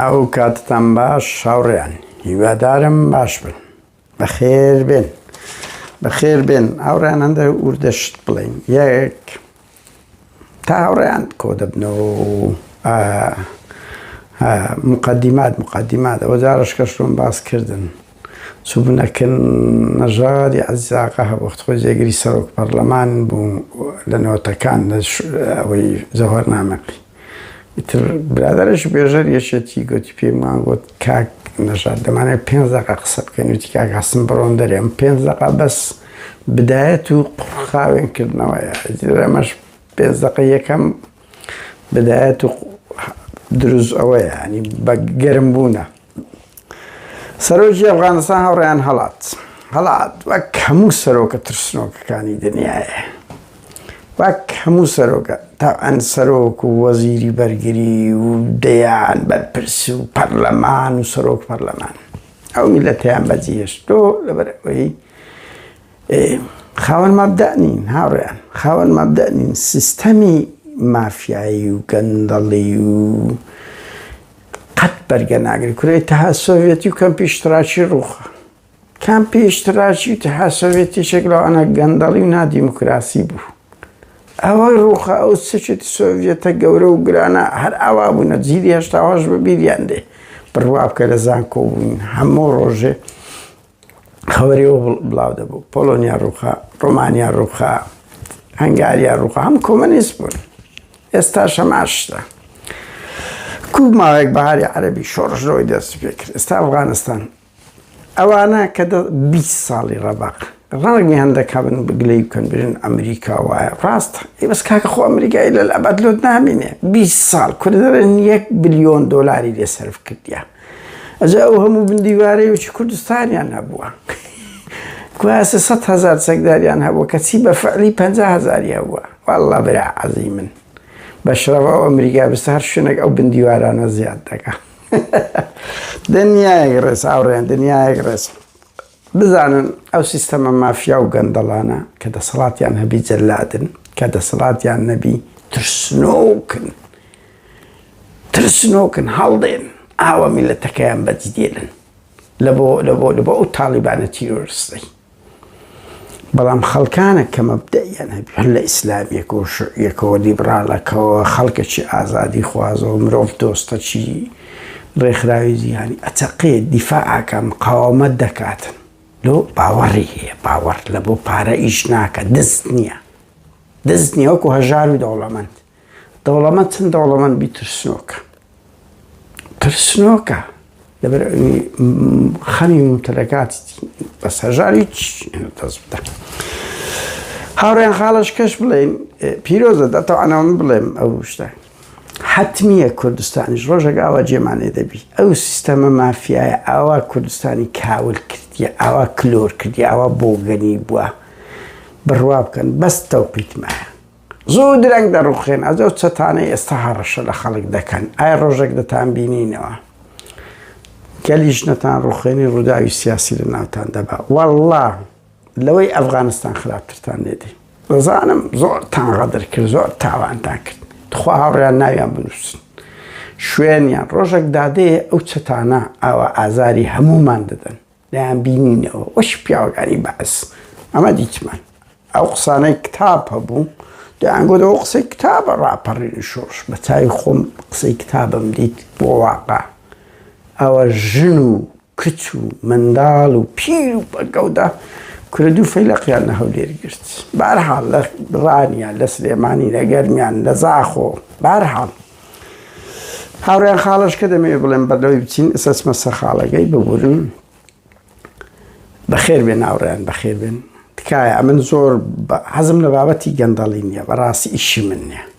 ئەو کاتتان باش هاوڕێیان هیوادارم باش بن بەخێر بێن بەخێر بێن هاوڕێیان هەندە وردەشت بڵین یەک تا هاوڕێیان کۆ دەبنەوە مقدمات مقدمات ئەوە جارش کەشتم باس کردن چوبنەکن نەژادی عزیزاقە هەبخت خۆی جێگری سەرۆک پەرلەمان بوو لە نەوەتەکان ئەوەی زەهۆر نامەقی ئیتر برادەرەشی بێژەر یەکێتی گوتی پێمان گوت کاک نەژاد دەمانێت پێنج دەقە قسە بکەین وتی کاک هەستم بڕۆن دەرێ ئەم پێنج دەقە بەس بدایەت و قڕخاوێن کردنەوەیە ئەمەش پێنج دەقە یەکەم بدایەت و دروست ئەوەیە ینی بە گەرم بوونە سەرۆکی ئەفغانستان هەوڕیان هەڵات هەڵات وەک هەموو سەرۆکە ترسنۆکەکانی دنیاە وەک هەموو سەرۆکە تا ئەن سەرۆک و وەزیری بەرگری و دەیان بەرپرس و پەرلەمان و سەرۆک پەرلەمان ئەو میلەتیان بەجیهێشتۆ لەبەر ئەوەی خاوەن مابدانین هاوڕیان خاوەن مابدانین سیستەمی مافیایی و گەندەڵی و قەت بەرگە ناگری کورە ئیتحاد سۆڤێتی و کەمپی ئیشتراکی ڕووخا کەمپی ئیشتراکی و ئیتحاد سۆڤێتی شێک لەوانە گەندەڵی و نادیموکراسی بوو ئەوەی ڕووخا ئەو سچێتی سۆڤێتە گەورە و گرانە هەر ئاوا بوونە جیلی هێشتاواش بە بیریان دێ بڕوا بکە لە زانکۆ بووین هەموو ڕۆژێ خەوەرەوە بڵاو دەبوو پۆلۆنیا ڕووخا ڕۆمانیا ڕووخا هەنگاریا ڕووخا هەم کۆمەنیست بوون ئێستا شەماشتە کوک ماوەیەک بەهاری عەربی شۆڕشەوەی دەست پێ کرد ئێستا ئەفغانستان ئەوانە کە 20 ساڵی ڕەبق ڕاگی هەندەکە بن بگلەی بکەن برن ئەمریکا وایە ڕاستە ئی بەس کاکە خۆ ئەمریکای لە ئەبەت لۆت نامینێ 20 ساڵ کوردەرن یەک بلیۆن دۆلاری لێ سرف کردیان ئەجا ئەو هەموو بندیوارەی وچی کوردستانیان هەبووە کواسە سەد هەزار چەکداریان هەبوو کە چی بە فعلی پ هزاری هەبووە والله برا عەزی من بەشرەوە ئەو ئەمریکا بستە هەر شوێنێک ئەو بندیوارانە زیاد دەکە دنیایەک ڕێز ئاوڕێن دنیایەک ڕێز بزانن ئەو سیستەمە مافیا و گەندەڵانە کە دەسەڵاتیان هەبی جەلادن کە دەسەڵاتیان نەبی ترسنۆکن ترسنۆکن هەڵدێن ئاوا میلەتەکەیان بەجدێنن لەبۆ لەبۆ لەبۆ ئەو تاڵیبانە تیرۆرستەی بەڵام خەڵکانە کە مەبدەیان هەبی هەر لە ئیسلامیەک و شعیەکەوە لیبراڵەکەەوە خەڵکەکی ئازادی خوازەوە مرۆڤ دۆستەچی ڕێکخراوی جیهانی ئەچەقێت، دیفاع ئەکات، مقاوەمەت دەکات، لۆ باوەڕی هەیە، باوەڕ لە بۆ پارە ئیش ناکات، دەست نییە، دەست نییە وەکو هەژار و دەوڵەمەند، دەوڵەمەند چەند دەوڵەمەند بی ترسنۆکە، ترسنۆکە، لەبەر ئەوی خەمی مومتەلەکاتی بەس هەژار هیچ دەست بدە. هاوڕێیان خاڵەش کەش بڵێن پیرۆزە دەتەوانەوە من بڵێم ئەو شتە. حەتمیە کوردستانیش ڕۆژێک ئاوا جێمان لێ دەبی ئەو سیستەمە مافیایە ئاوا کوردستانی کاول کردیە ئاوا کلۆر کردی ئاوا بۆگەنی بووە بڕوا بکەن بەس تەوقیتمایە زۆر درەنگ دەڕوخێن ئەزە و چەتانە ئێستا هەڕەشە لە خەڵک دەکەن ئایا ڕۆژێک دەتان بینینەوە گەلیش نەتان ڕوخێنی ڕووداوی سیاسی لە ناوتان دەبا وەڵڵا لەوەی ئەفغانستان خراپترتان لێدەی دەزانم زۆر تان غەدر کرد زۆر تاوانتان کرد تخوا هاوڕیان ناویان بنووسن شوێنیان ڕۆژێک دادەیە ئەو چەتانە ئاوا ئازاری هەمومان دەدەن دەیان بینینەوە وەش پیاوەکانی بەعس ئەمە دیتمان ئەو قسانەی کتاب هەبوو دەیانگۆدەوە قسەی کتابە ڕاپەڕین شۆش بە چای خۆم قسەی کتابم دیت بۆ واقع ئەوە ژن و کچ و منداڵ و پیر و بەگەودا کورە دوو فەیلەقیان لە هەولێر گرت بارحاڵ لە ڕانیە لە سلێمانی لە گەرمیان لە زاخۆ بارحاڵ هاوڕێن خاڵش کە دەمەوێت بڵێن بەردەوەی بچین ئسەسمە سەرخاڵەکەی ببورن بەخێر بێن ناوڕیان بەخێر بێن تکایە ئەمن زۆر حەزم لە بابەتی گەندەڵی نییە بەڕاستی ئیشی من نیە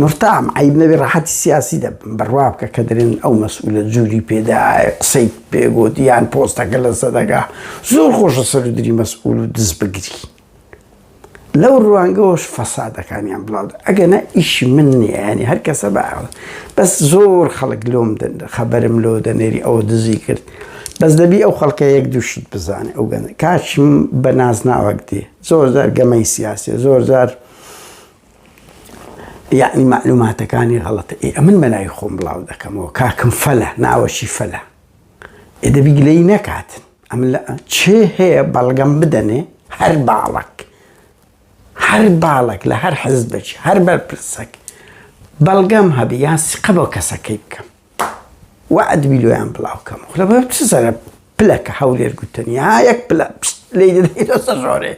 مورتام عەیب نەبێ ڕەحەتی سیاسی دەبم بڕوا بکە کە دەرێن ئەو مەسئولە جوری پێ دا قسەی پێ گوت یان پۆستەکە لە سەدەگا زۆر خۆشە سەرودری مەسئول و دز بگری لەو ڕوانگەوەش فەسادەکانیان بڵاو ئەگەنە ئیشی من نییە ینی هەر کەسە بە بەس زۆر خەڵک لۆم دەن خەبەرم لۆ دەنێری ئەوە دزی کرد بەس دەبی ئەو خەڵکە یەک دووشت بزانێ ئەو گەن کاچم بە نازناوەک دێ زۆر زار گەمەی سیاسێ زۆر زار یەعنی مەعلوماتەکانی غەڵەتە ئێ ئەمن بەناوی خۆم بڵاو دەکەمەوە کاکم فەلە ناوەشی فەلە ئێ دەبی گلەیی نەکاتن ئەم لە چێ هەیە بەڵگەم بدەنێ هەر باڵک هەر باڵک لە هەر حزبێکی هەر بەرپرسەک بەڵگەم هەبی یان سقە بۆ کەسەکەی بکەم وەعد بیلۆیان بڵاو کەم خلە بە چ زەرە پلە کە هەولێر گوتنی ها یەک پلە پشت لی دەدەی دەسە ژۆرێ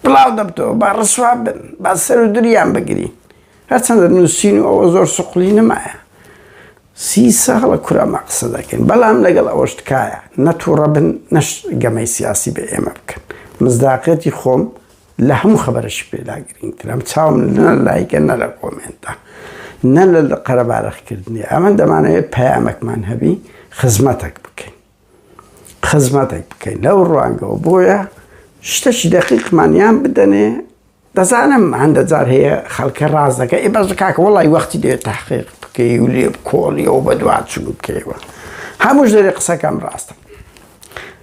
بڵاو دەبتەوە با ڕسوا بن با سەر و دریان بگری هەرچەندە نووسین و ئەوە زۆر سوقلی نمایە سی ساڵە کورامە قسە دەکەین بەڵام لەگەڵ ئەوەش تکایە نەتوڕە بن نەش گەمەی سیاسی بە ئێمە بکەن مزداقەتی خۆم لە هەموو خەبەرەشی پێدا گرینگترم چاوم نە لایکە نە لە کۆمێنتە نە لە قەرەبارەخکردنی ئەمە دەمانەوێت پەیامەکمان هەبی خزمەتەک بکەین خزمەتێک بکەین لەو ڕوانگەوە بۆیە شتەشی دەقیقمانیان بدەنێ دەزانم هەندە جار هەیە خەڵکە ڕاز دەکە ئێ بەش کاکە وڵی وەختی دێت تاحقیق بکەی و لێ کۆڵیەوە بە دوواچوو بکەیەوە هەموو ژێری قسەکەم ڕاستە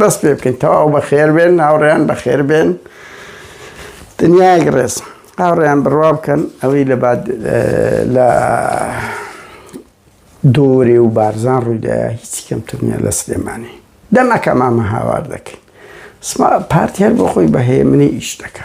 دەست پێ بکەین تەواو بەخێر بێن ناوڕێیان بەخێر بێن دنیایەک ڕێز هاوڕێیان بڕوا بکەن ئەوەی لە بعد لە دۆرێ و بارزان ڕوویدایە هیچی کەمتر نیە لە سلێمانی دەمەکە مامە هاوار دەکەین پارتی هەر بۆ خۆی بەهەیە منی ئیش دەکە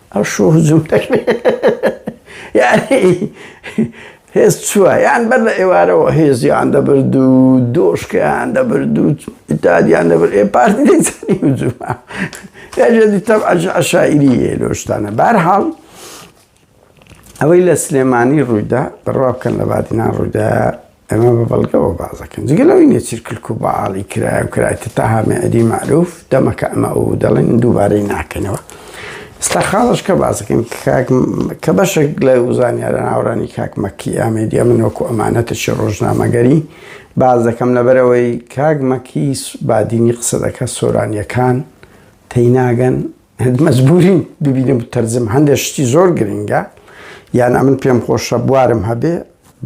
ئەو شۆ هجوم دەکرێ یانی هێز چووە یان بەر لە ئێوارەوە هێزیان دەبرد و دۆشکیان دەبرد و ئیتادیان دەبرد ئێ پارتی دەیزانی هجومە یاژێدی تەب عشاعیری یە لۆشتانە بارحاڵ ئەوەی لە سلێمانی ڕوویدا بڕوا بکەن لە بادینان ڕوویدا ئەمە بە بەڵگەوە باس دەکەن. جگە لەوەی نێچیر کلک و بەعاڵی کرایە و کرایتە تەها مێعدی مەعروف، دەمەکە ئەمە ئەو دەڵێن دووبارەی ناکەنەوە. ئێستا خاڵەشکە باس دەکەین کە کاک کە بەشێک لە زانیارە ناوەڕانی کاک مەکی ئامێدیە من وەکو ئەمانەتێکی ڕۆژنامەگەری باس دەکەم لەبەر ئەوەی کاک مەکی بادینی قسە دەکات سۆرانیەکان تێی ناگەن مەجبوریم ببینم و تەرجم هەندێک شتی زۆر گرنگە یان ئەمن پێم خۆشە بوارم هەبێ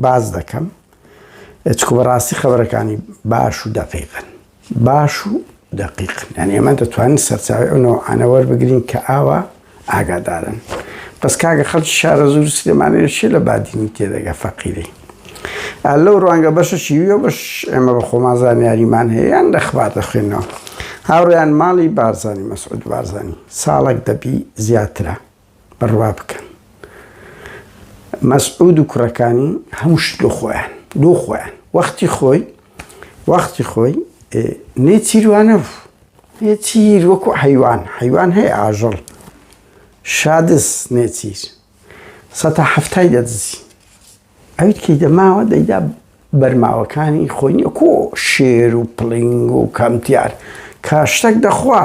باز دەکەم چکو بەڕاستی خەبەرەکانی باش و دەقیقن باش و دقیقن یعنی ئەمە دەتوانین سەرچاوی ئەوەوە ئەنەوەەر بگرین کە ئاوا ئاگادارن بەس کاگە خەڵکی شارە زور سلێمانەیەشی لە بادینی تێدەگە فەقیری لەو ڕوانگە بەشەشی ویە بەش ئێمە بە خۆمان زانیاریمان هەیە یان دەخبات دەخوێنەوە هاوڕیان ماڵی بارزانانی مەسعود بارزانانی ساڵک دەبی زیاترە بڕوا بکەن مەسعود و کوڕەکانی هەموو شت لۆ خۆیان لۆ خۆیان وەختی خۆی وەختی خۆی نێ چیروانە بوو نێ چیر وەکو حیوان حیوان هەیە ئاژەڵ شادس نێچیر سەتا هەفتای دەدزی ئەویت کەی دەماوە دەیدا بەرماوەکانی خۆی نیە کۆ شێر و پڵنگ و کەمتیار کاشتەک دەخوا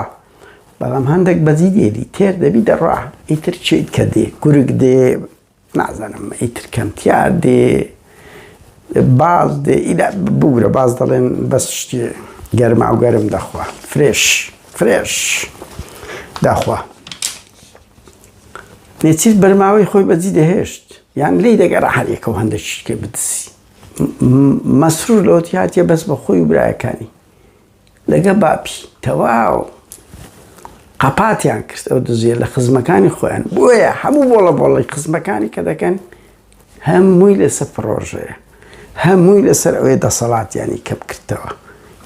بەڵام هەندێک بەزی دێری تێر دەبی دەڕا ئیتر چیت کە دێ گورگ دێ نازانم ئیتر کەمتیار دێ باز دێ ئیدا بگرە باز دەڵێن بەس شتی گەرما و گەرم دەخوا فرێش فرێش داخوا نێچیر بەرماوەی خۆی بەجی دەهێشت یان لی دەگەرا هەریەکە و هەندە شتکێ بدسی مەسرور لەوەتی هاتیە بەس بە خۆی و برایەکانی لەگە باپی تەواو قەپاتیان کرد ئەو دزیە لە خزمەکانی خۆیان بۆیە هەموو بۆڵە بۆڵی خزمەکانی کە دەکەن هەمووی لەسەر پڕۆژەیە هەمووی لەسەر ئەوەی دەسەڵاتیانی کەم کردەوە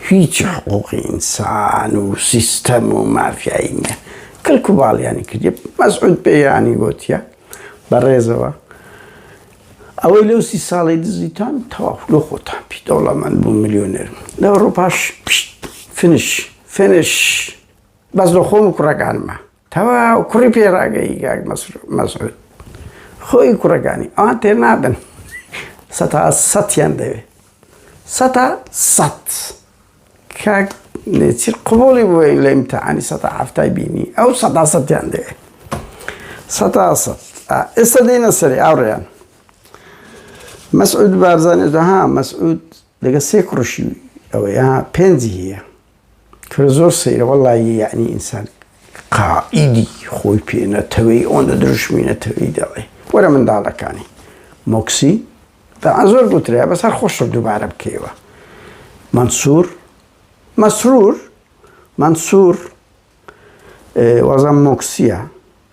هیچ حقوقی ئینسان و سیستەم و مافیایی نیە کەلکو باڵیانی کردی مەسعود پێیانی گوتیە بە ڕێزەوە ئەوەی لەو سی ساڵی دزیتان تەواف لۆ خۆتان پی دەوڵەمەند بوو ملیۆنێر لە ئەوڕۆپاش فنش فنش بەس لە خۆم و کوڕەکانمە تەواو کوڕی پێ ڕاگەی گاک مەسعود خۆی کوڕەکانی ئەوان تێ نابن سەتا سەیان دەوێت سەتا سەد کاک نێچیر قوبڵی بووە لە امتحانی سەتا هەفتای بینی ئەو سەتا سەیان دەوێت سەتا سەد ئێستا دێنە سەری ئاڕیان مەسعود بارزانێت ها مەسعود لەگە سێ کوڕشی ئەوەیە پێنجی هەیە کورە زۆر سەیرە وەڵا ی یەعنی ئینسان قائیدی خۆی پێ نەتەوێی ئۆندە دروشمی نەتەوێی دەڵێ وەرە منداڵەکانی مۆکسی تەعا زۆر گوترێ بەس هەر خۆشە دووبارە بکەیەوە مەنسور مەسرور مەنسور وازان مۆکسیە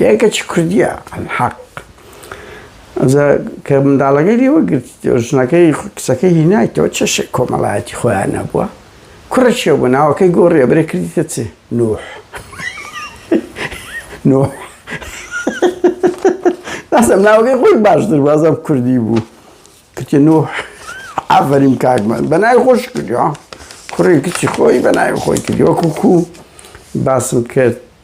یای کەچی کوردیە حەق کە منداڵەکەی لێوە گرت ژنەکەی قسەکەی هینایتەوە چێشێ کۆمەڵایەتی خۆیان نەبووە کوڕە چێ بوو ناوەکەی گۆڕێ برێ کردیتە چێ نوح نوح ناسم ناوەکەی خۆی باشتر بازم کوردی بوو کچ نوح ئافرین کاکمان بەنای خۆش کردی کوڕی کچی خۆی بەنای خۆی کردی وەکو کو باسم کرد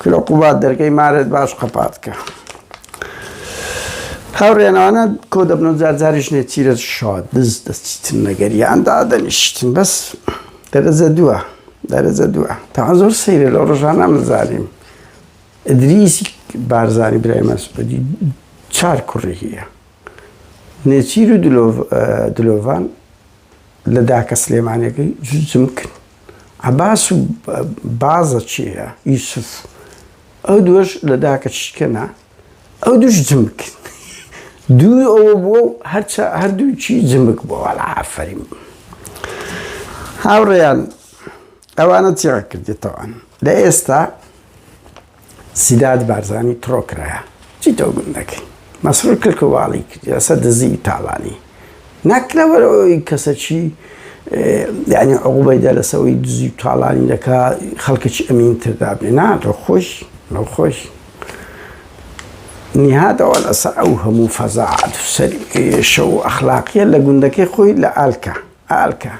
کرۆ قوباد دەرگەی مارێت باش قەپات کە هاوڕێنانە کۆ دەبن و جارجاریش نێچیرە شاد دز دەستیتن نەگەریان دادەنیشتن بەس دەرەجە دووە دەرەجە دووە تا زۆر سەیرە لە ڕژانە مەزانیم ئەدریسی بارزانانی برای مەسعودی چار کوڕی هەیە نێچیر و دلۆڤان لە داکە سلێمانەکەی جوجم کرد عەباس و بازە چێە یوسف ئەو دووەش لە داکە چشکەنا ئەو دوش جمک دوو ئەوە بووە و هەرچە هەردووچی جمک بۆوە لە ئافرین هاوڕێیان ئەوانە چێڕ کردێتەوەن لە ئێستا سیداد بارزانی تڕۆ کرایە چی تۆ گوون دەکەی مەسرور کلک و واڵی کردی لەسەر دزی و تاڵانی نەک لەبەر ئەوەی کەسەکی یعنی عقوبەیدا لەسەوەی دزی و تاڵانی دەکا خەڵکەکی ئەمین تردا بێ نا تۆ خۆش لەو خۆش نهادەوە لەسەر ئەو هەموو فەزاعات شەو ئەخلاقیە لە گوندەکەی خۆی لە ئالکە ئالکە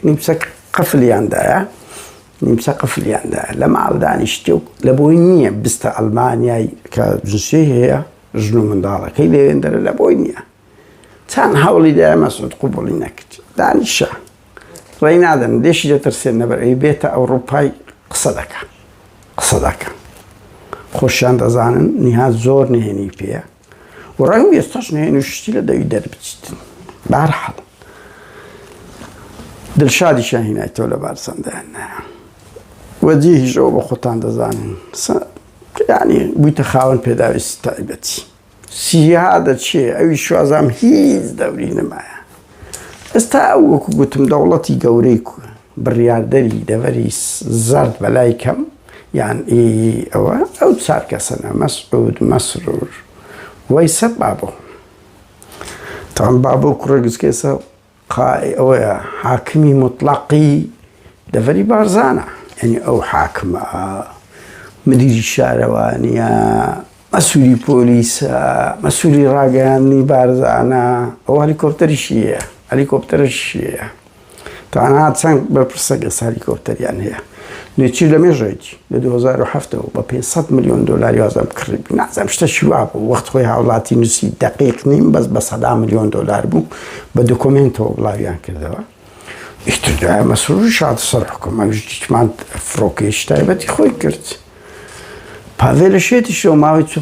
نیپسە قفلیاندایە نیمچە قفلیان دایە لە ماڵ دانیشتێ و لە بۆی نییە بستە ئەلمانیای کە جنسێ هەیە ژن و منداڵەکەی لەوێندەرە لە بۆی نییە چەند هەوڵی دای مەسود قوبڵی نەکرد دانیشە ڕێی نادەن لێشی دەترسێن نەبەر ئەی بێتە ئەوڕوپای قسە دەکە قسە دەکە خۆشیان دەزانن نیها زۆر نهێنی پێە و ڕەنگە ئێستاش نەیەن و شتی لە دەوی دەربچیت بە هەر حاڵ دڵشادیشیان هینای تۆ لە بارسەندایان نایە وەجیهیش ئەوە بە خۆتان دەزانن ینی بوویتە خاوەن پێداویستی تایبەتی سیها دەچێ ئەوی شوازام هیچ دەوری نمایە ئێستا ئەو وەکو گوتم دەوڵەتی گەورەی بڕیاردەری دەڤەری زەرد بەلای کەم یان ئی ئەوە ئەو چار کەسەنە مەسعود مەسرور وای سە بابۆ تام بابۆ کوڕە گچکێسە قای ئەوەیە حاکمی مطلقی دەڤەری بارزانە یعنی ئەو حاکمە مدیری شارەوانیە مەسولی پۆلیسە مەسولی ڕاگەیاندنی بارزانە ئەو هەلیکۆپتەریشی هەیە هەلیکۆپتەرشی هەیە تانا چەند بەرپرسەگە هەلیکۆپتەریان هەیە لێچی لە مێژێک لە 2007ەوە بە 500 میلیۆن دلاری وازم کڕی نازم شتە شوا بوو وەخت خۆی هاوڵاتی نووسی دقیق نیم بەس بە سەدا میلیۆن دلار بوو بە دکمنتەوە بڵاویان کردەوە ئیتر دوای مەسرورش هاتە سەر حکوم ئەمیش دیتمان فڕۆکەیەکی تایبەتی خۆی کرد پاڤێلە شێتیش لەو ماوەی چ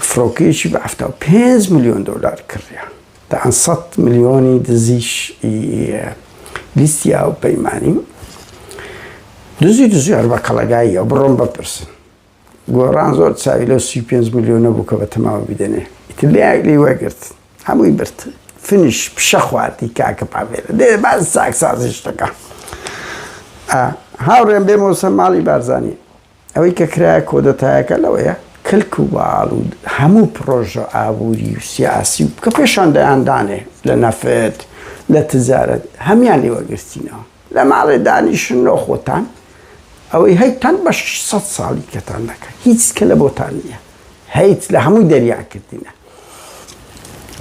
فڕۆکەیەکی بە هەفتا و پێنج ملیۆن دۆلار کڕیە دەیان سەد ملیۆنی دزیش لیستی ئاو پەیمانی دزی دزیار بە کەڵەگاییە بڕۆن بپرسن گۆڕان زۆر چاوی لەو سی و پێنج ملیۆنە بوو کە بە تەماوە بیدەنێ ئیتر لێ لێی وەرگرت هەمووی برد فنیش پیشە خواردی کاکە پاڤێلە دێ باز چاکسازی شتەکە هاوڕێم بێ مۆسە ماڵی بارزانانی ئەوەی کە کرایە کۆدەتایەکە لەوەیە کلک و باڵ و هەموو پرۆژە ئابووری و سیاسی و کە پێشان دەیاندانێ لە نەفت لە تجارەت هەمان لێوەگرتینەوە لە ماڵێ دانیشن و خۆتان ئەوەی هەی تان بە شەش سەد ساڵی کەتان دەکەن هیچ کە لە بۆتان نییە هەیت لە هەمووی دەریان کردینە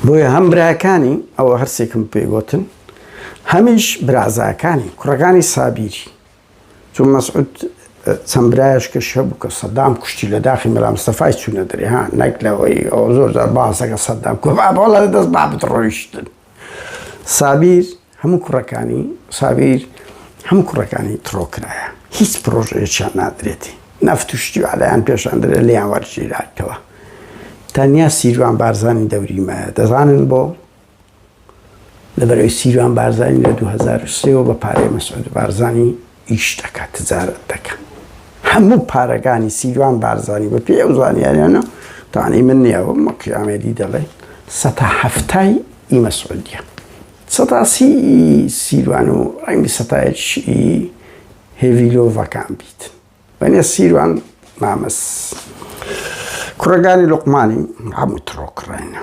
بۆیە هەم براکانی ئەوە هەرسێکم پێگوتن هەمیش برازاکانی کوڕەکانی سابیری چون مەسعود چەند برایش کە شە بوو کە سەدام کوشتی لە داخی مەلامستەفای چوونە دەرێ ها نەک لەوەی ئەو زۆر زار باسەکە سەدام کۆبابڵە دەست با بتڕۆیشتن سابیر هەموو کوڕەکانی سابیر هەموو کوڕەکانی تڕۆ کرایە هیچ پرۆژەیەکیان نادرێتی نەفت و شتی و عەلایان پێشان درێ لێیان وەرگیراتەوە تەنیا سیروان بارزانی دەوری مایە دەزانن بۆ لەبەرەوەی سیروان بارزانی لە 2023 بە پارەی مەسعود بارزانی ئیش دەکات تجارت دەکات هەموو پارەکانی سیروان بارزانی بە پێ ئەو زانیاریانە تانی من نییەوە مەقیامێدی دەڵێ سەتا هەفتای ئیمە سعودیە سەتاسی ی سیروان و ڕەنگە سەتایەکیش ی هێڤی لۆڤەکان بیت بەنێ سیروان مامەس کوڕەگانی لوقمانی هەموو تڕۆ کڕێنە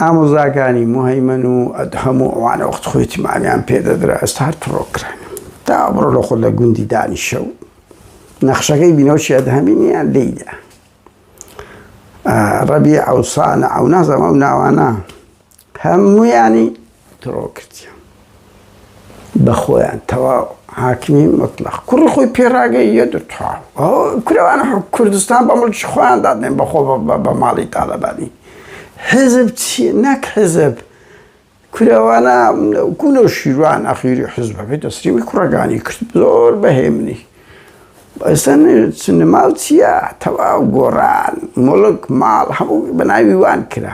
ئامۆزاکانی مهیمەن و ئەدهەم و ئەوانە وەخت خۆی تیمانیان پێدەدرا ئێستا هەر تڕۆ کرێن تا بڕۆ لە خۆ لە گوندی دانیشە و نەخشەکەی بینەوەشی ئەدهەمی نیان لێیدا ڕەبی ئەوسانە ئەو نازەمە و ناوانە هەموویانی تڕۆ کردیان بە خۆیان تەواو حاکمی مطلق کوڕی خۆی پێراگەی یە دتوا کورەوان کوردستان بە مڵکی خۆیان دادێن بەخۆ بە ماڵی تاالبانی حزب چی نەک حزب کورەوانە گولە و شیروان ئەخیری حزبەکەی دەسریوی کوڕەکانی کرد زۆر بەهێمنی ئێستا سنەماڵ چییە تەواو گۆڕان مڵک ماڵ هەموو بەناوی وان کرا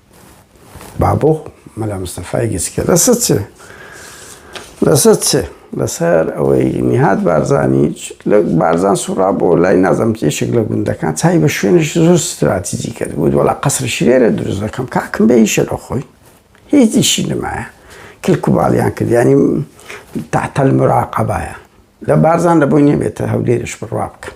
بابۆ مەلا مستەفای گچکە لەسەر چ لەسەر چ لەسەر ئەوەی نیهات بارزانی لە بارزان سوڕا بۆ لای نازم تێشێک لە گوندەکان چای بە شوێنش زۆر ستراتیجی کرد بوو وڵا قەسر شرێرە دروست دەکەم کاکم بە هیچە لە خۆی هیچیشی نمایە کلکوباڵیان کردیانی تاتەل مراقەبایە لە بارزان لە بۆی نێبێتە هەولێرش بڕوا بکەم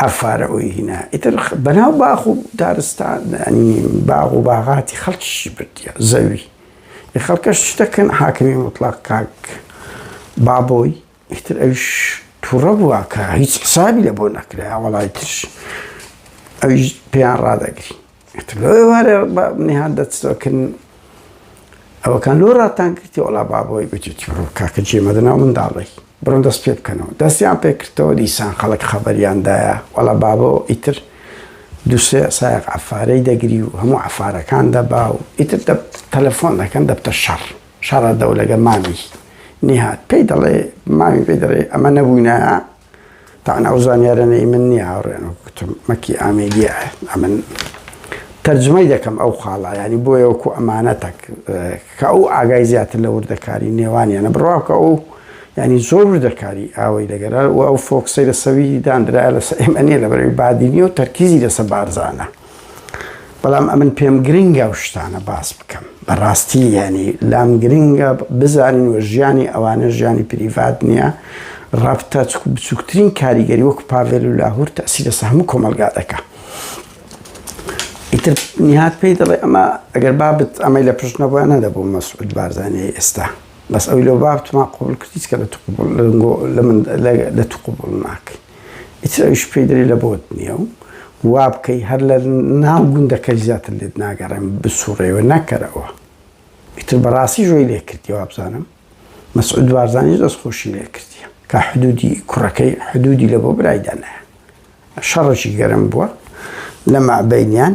ئەفارە ئوی هینا ئیتر بەناو باخ و دارستان ینی باغ و باغاتی خەڵکیشی بردیە زەوی ی خەڵکەش چ دەکەن حاکمی مطلق کاک بابۆی ئیتر ئەوش تووڕە بووە کە هیچ حسابی لە بۆ نەکرا وەڵای ترش ئەویش پێیان ڕادەگری ئیتر لۆ ئێوارێ بە نیهاد دەچتەکن ئەوەکان لۆ ڕاتان کردی وەڵا بابۆی گوتی بڕۆ کاکە جێ مەدە ناو منداڵی بڕۆن دەست پێ بکەنەوە دەستیان پێ کردەوە دیسان خەڵک خەبەریان دایە وەڵا بابۆ ئیتر دوسێ سایەق عەفارەی دەگری و هەموو عەفارەکان دەبا و ئیتر دە تەلەفۆن دەکەن دەبتە شەڕ شەڕە دەولەگە مامی نیهاد پێی دەڵێ مامی پێی دەڵێ ئەمە نەبووینە تاان ئەو زانیارەنە ئی من نییە هاوڕێن و کوتم مەکی ئامێدیە ئەمن تەرجمەی دەکەم ئەو خاڵە ینی بۆیە وەکو ئەمانەتەک کە ئەو ئاگای زیاتر لە وردەکاری نێوانیانە بڕواکە ئەو ینی زۆر وردەکاری ئاوەی دەگەرە و ئەو فۆکسەی لە سەوی دانرا لەسەر ئێمە نیە لە بەرەوی بادینی و تەرکیزی لەسە بارزانە. بەڵام ئەمن پێم گرنگە و شتانە باس بکەم بەڕاستی یعنی لام گرنگە بزانین و ژیانی ئەوانە ژیانی پریڤات نییە ڕابتە چکو بچووکترین کاریگەری وەکو پاڤێل و لاهور تاسی لەسە هەموو کۆمەلگا دەکە ئیتر نهات پێی دەڵێ ئەمە ئەگەر بابت ئەمەی لە پشت نەبووە نەدەبوو مەسعود بارزانانی ئێستا بەس ئەوی لەو بابتمان قوبول کردیت کە لە تو قبول لە من لە تو قبول ناکەی ئیتر ئەویش پێی دەرێ لە بۆت نییە و وا بکەی هەر لە ناو گوندەکەش زیاتر لێت ناگەڕێم بسووڕێی و نەکەرەوە. ئیتر بە ڕاستیش وەی لێ کردیە وابزانم مەسعود بارزانیش دەست خۆشی لێ کردیە کە حدوودی کوڕەکەی حدوودی لە بۆ برای دانایە. شەڕێکی گەرم بووە لە مابەینیان.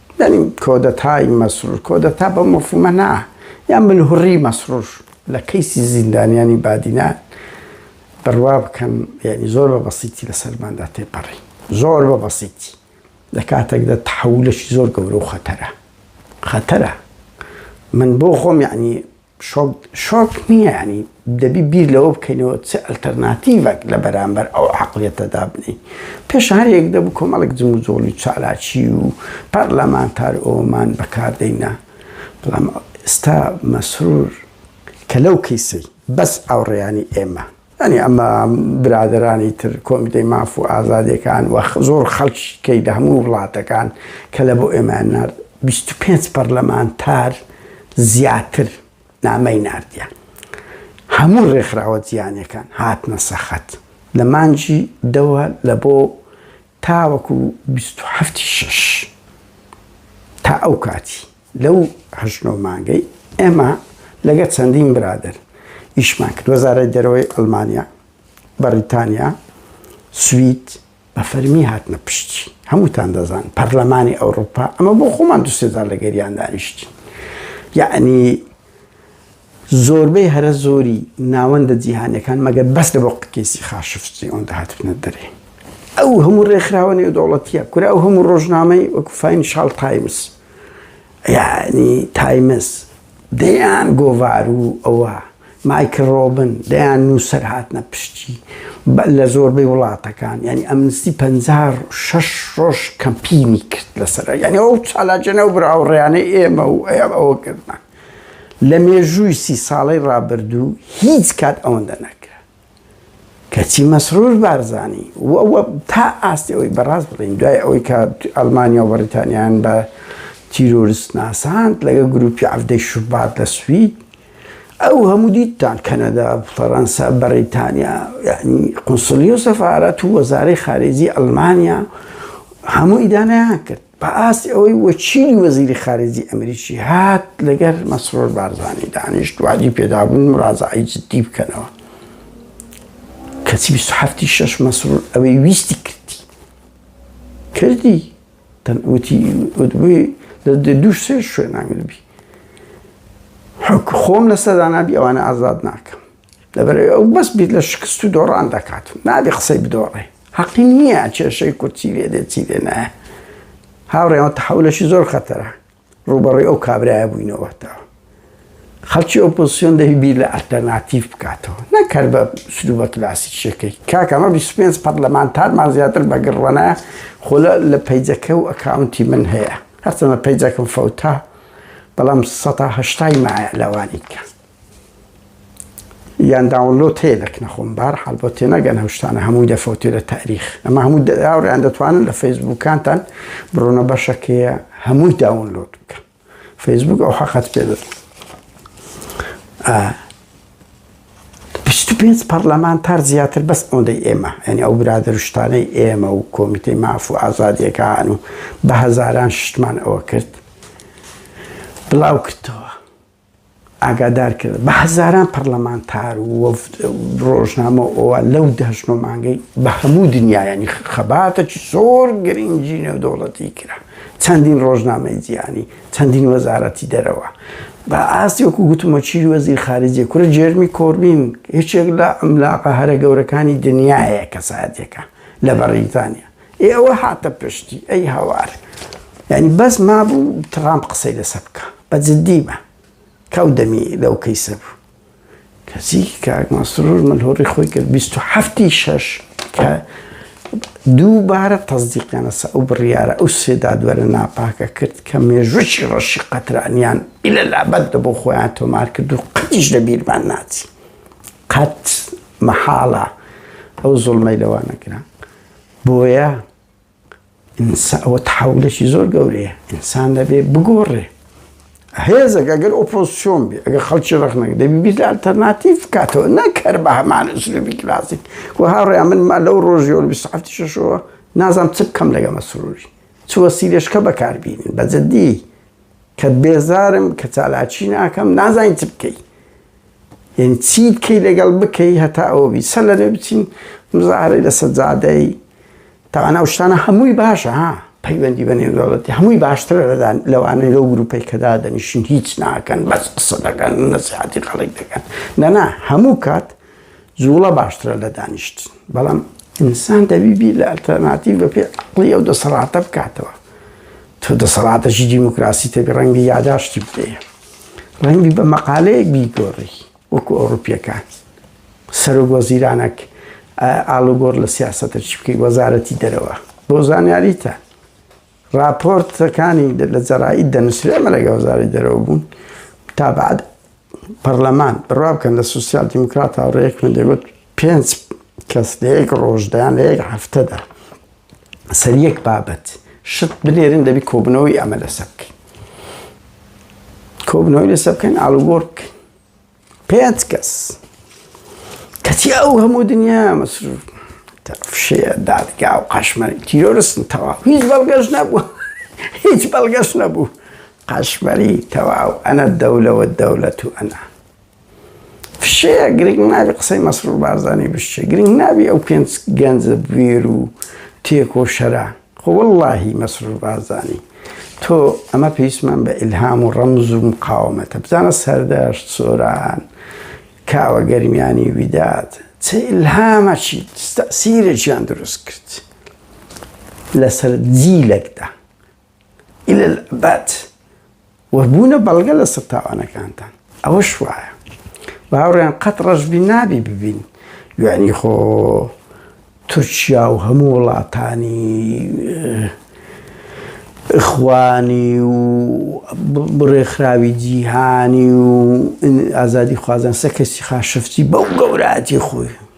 یانی کۆدەتای مەسرور کۆدەتا بەم مەفهومە نا یان ملهوڕی مەسرور لە کەیسی زیندانیانی بادینان بڕوا بکەن یانی زۆر بە بەسیتی لەسەرماندا تێپەڕی زۆر بە بەسیتی لە کاتێکدا تحولەکی زۆر گەورە و خەتەرە خەتەرە من بۆ خۆم یعنی شۆک شۆک نیە یانی دەبی بیر لەوە بکەینەوە چ ئەلتەرناتیڤەک لە بەرامبەر ئەو عەقڵیەتە دابنێین پێش هەر یەک دەبوو کۆمەڵێک جموجۆڵی چالاکی و پەرلەمانتار ئەوەمان بەکار دەینا بەڵام ئێستا مەسرور کە لەو کیسەی بەس ئاوڕیانی ئێمە. یانی ئەمە برادرانی تر کۆمیتەی ماف و ئازادیەکان وە زۆر خەڵکی کەی لە هەموو وڵاتەکان کە لە بۆ ئێمان نرد 25 پەرلەمانتار زیاتر نامەی نردیان هەموو ڕێکخراوە جیانەکان هاتنە سەخت لە مانجی دەوە لە بۆ تاوەکو بیست و حەفت ی شەش تا ئەو کاتی لەو هەشت نۆ مانگەی ئێمە لەگەر چەندین برادەر ئیشمان کرد وەزارەی دەرەوەی ئەلمانیا بەڕیتانیا سوید بە فەرمی هاتنە پشتی هەمووتان دەزان پەرلەمانی ئەوروپا ئەمە بۆ خۆمان دوسێزار لەگەریان دانیشتین یعنی زۆربەی هەرە زۆری ناوەندە جیهانیەکان مەگەر بەس لە بۆ کەیسی خاشفج ئەوەندە هاتبنە دەرێ ئەو هەموو ڕێکخراوە نێودەوڵەتیە کورا ئەو هەموو ڕۆژنامەی وەکو فاین شال تایمز یعنی تایمز دەیان گۆڤار و ئەوە مایکل ڕۆبن دەیان نووسەر هاتنە پشتی لە زۆربەی وڵاتەکان ینی ئەمنستی پ شش ڕۆژ کەمپینی کرد لەسەر ینی ئەو چالاجێنە و براوڕیانەی ئێمە و ئەوە کردن لە مێژووی سی ساڵەی ڕابردوو هیچ کات ئەوەندە نەکرا. کەچی مەسرور بارزانی و و تا ئاستی ئەوەی بەڕاست بڵێین دوای ئەوەی کە ئەڵمانیا و بەڕیتانیان بە تیرۆرست ناساند لەگە گروپی عەفدەی شوبات لە سوید ئەو هەموو دیتان کەنەدا فەڕەنسا بەڕیتانیا یعنی قنسلی و سەفارەت و وەزارەی خارێزی ئەلمانیا هەموو ئیدانەیان کرد بە ئاستی ئەوەی وەچینی وەزیری خارجی ئەمریکی هات لەگەر مەسرۆر بارزانی دانیشت وادی پێدابوون مڕازعی جددی بکەنەوە کەچی 27 شش مەسرور ئەوەی ویستی کردی کردی تەنوتی وتبووی لە دوو سێ شوێنانگربی حکو خۆم لەسەر دانابی ئەوانە ئازاد ناکەم دەبێت ئەو بەس بیت لە شکست و دۆڕان دەکات و نابێ قسەی بدۆڕێ حەقی نییە کێشەی کورد چی لێ دێت چی لێ نایە هاوڕێەوە تحولەشی زۆر خەتەرە ڕوبەڕی ئەو کابراە بووینەوەتەوە خەڵکی ئۆپۆسیۆن دەهی بیر لە ئەلتەرناتیف بکاتەوە نەکرد بە سلو بە کلاسی شەکەی کاکەمە 25 پەرلەمانتارمان زیاتر بەگەڕوانە خۆ لە پیجەکە و ئەکاونتی من هەیە هەرچەنە پیجەکەم فەوتا بەڵام 1970 مایە لەوانی کە یان داونلۆد هەیە لە کنەخۆم بار حال بۆ تێنەگەن هەشتانە هەمووی دەفەوتێ لە تاریخ ئەمە هەموو داوریان دەتوانن لە فەیسبووکانتان بڕۆنە بەشەکەیە هەمووی داونلۆد بکە فەیسبوک ئەو حەقەت پێ دەست پێنج پەرلەمانتار زیاتر بەس ئەوەندەی ئێمە ئەنی ئەو برادرشتانەی ئێمە و کۆمیتەی ماف و ئازادیەکان و بە هەزاران شتمان ئەوە کرد بڵاو کردەوە ئاگادارکرد بە هەزاران پەرلەمانتار و وەفد و ڕۆژنامە ئەوە لەو دەهشت و مانگەی بە هەموو دنیایانی خەباتەکی زۆر گرنگی نێودەوڵەتی کرا چەندین ڕۆژنامەی جیهانی چەندین وەزارەتی دەرەوە بە ئاستی وەکو گوتمە چی وەزیر خارجی کورە جێرمی کۆربین هیچێک لە ئەملاقە هەرە گەورەکانی دنیاە کەساتێکە لە بەڕیتانیا ئێ ئەوە هاتە پشتی ئەی هاوار یانی بەس مابوو تڕامپ قسەی لەسە بکە بە جددی بە کەو دەمی لەو کەیسە بوو کەسی کاک مەسرور من هۆڕی خۆی کرد 27 شش کە دووبارە تەزدیقیانەسە ئەو بڕیارە ئەو سێدادوەرە ناپاکە کرد کە مێژووی ڕەشی قەترانیان ئیلە لابەت دە بۆ خۆیان تۆمار کرد و قەتیش لە بیرمان ناچی قەت مەحاڵە ئەو زۆڵمەی لەوانەکران بۆیە ئینسا ئەوە تەحولێکی زۆر گەورەیە ئینسان دەبێ بگۆڕێ هێزەک ئەگەر ئۆپۆزسیۆن بێ ئەگەر خەڵکی ڕخنەکە دەبی بیرە ئەلتەرناتیف بکاتەوە نەکەر بە هەمان ئوسلوبی کلاسیک و هاوڕێیان من ما لەو ڕۆژی و بیست هەفتی شەشەوە نازانم چ بکەم لەگە مەسروری چ وەسیلەشکە بەکاربینن بە جدی کە بێزارم کە چالاکی ناکەم نازانی چ بکەی یعنی چی بکەی لەگەڵ بکەی هەتا ئەوە بی سەر لەێ بچین مزارەی لەسەر جادەی تاوانا شتانە هەمووی باشە ها پەیوەندی بە نێودەوڵەتی هەمووی باشترە لەدان لەوانەی لەو گروپەی کەدا دەنیشین هیچ ناکەن بەس قسە دەکەن نەسیحاتی خەڵک دەکەن نەنا هەموو کات جوڵە باشترە لە دانیشتن بەڵام ئینسان دەبی بیر لە ئەلتەرناتیڤ بە پێ عقلی ئەو دەسەڵاتە بکاتەوە تۆ دەسەڵاتەشی دیموکراسی تێک ڕەنگی یاداشتی بدەیە ڕەنگی بە مەقالەیەک بیگۆڕی وەکو ئەوروپیەکان سەرۆک وەزیرانەک ئالوگۆر لە سیاستە چی بکەی وەزارەتی دەرەوە بۆ زانیاریتە ڕاپۆرتەکانی لە جەرائید دەنووسرێ ئەمە لەگە وەزاری دەرەوە بوون تا بعد پەرلەمان بڕوا بکەن لە سوسیال دیموکرات هاوڕێک من دەگوت پێنج کەس لە یەک ڕۆژدایان لە یەک هەفتەدا سەر یەک بابەت شت بنێرن دەبی کۆبنەوەی ئەمە لەسەر بکەین کۆبنەوەی لەسەر بکەین ئالوگۆڕ بکەین پێنج کەس کەچی ئەو هەموو دنیا مەسروف فشەیە دادگا و قاشمەری تیرۆرستن تەواو هیچ بەڵگەش نەبوو هیچ بەڵگەش نەبوو قاشمەری تەواو ئەنە دەولەوە دەولەت و ئەنا فشەیە گرنگ نابی قسەی مەسرور بارزانانی بشتێ گرنگ نابی ئەو پێنج گەنجە بوێر و تێکۆ شەرە خۆ وەڵاهی مەسرور بارزانی تۆ ئەمە پێویستمان بە ئیلهام و ڕەمز و مقاومەتە بزانە سەردەشت سۆران کاوە گەرمیانی ویداد چ ئیلهامەکی تەسیرێکیان دروست کرد لەسەر جیلێکدا ئیلە بەت و بوونە بەڵگە لەسەر تاوانەکانتان ئەوەش وایە باوڕیان قەت ڕەشبی نابی ببین یعنی خۆ تورکیا و هەموو وڵاتانی خوانی و بڕێکخراوی جیهانی و ئازادی خوازان سەکەسی خاشفتی بەو گەوراتی خۆی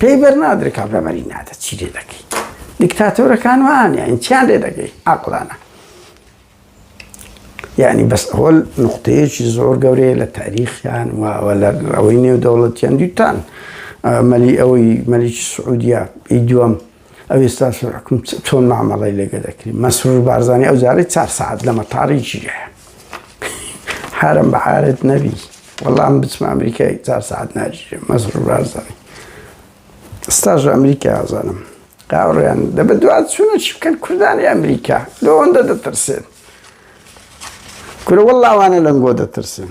پێی بەرنادرێ کابرا بەری نادە چی لێ دەکەی دیکتاتۆرەکان وانیان چیان لێ دەگەی عقلانە یعنی بەس هۆل نقطەیەکی زۆر گەورەیە لە تاریخیان وەوە لە ڕەوەی نێو دەوڵەتیان دیتان مەلی ئەوەی مەلیکی سعودیا ئی دووەم ئەو ئێستا سەرحکم چۆن مامەڵی لەگە دەکری مەسرور بارزانانی ئەو جارەی چار سعات لە مەتاری ژیرە حرم بە عارت نەبی وەڵام بچمە ئەمریکای چار سعات ناژیرە مەسرور بارزانانی ستاژ ئەمریکا ئازانم قاوڕیان دە بە دوات چونە چی بکەن کوردانی ئەمریکا لەوەندە دەترسێن کورە وەڵاوانە لەنگۆ دەترسن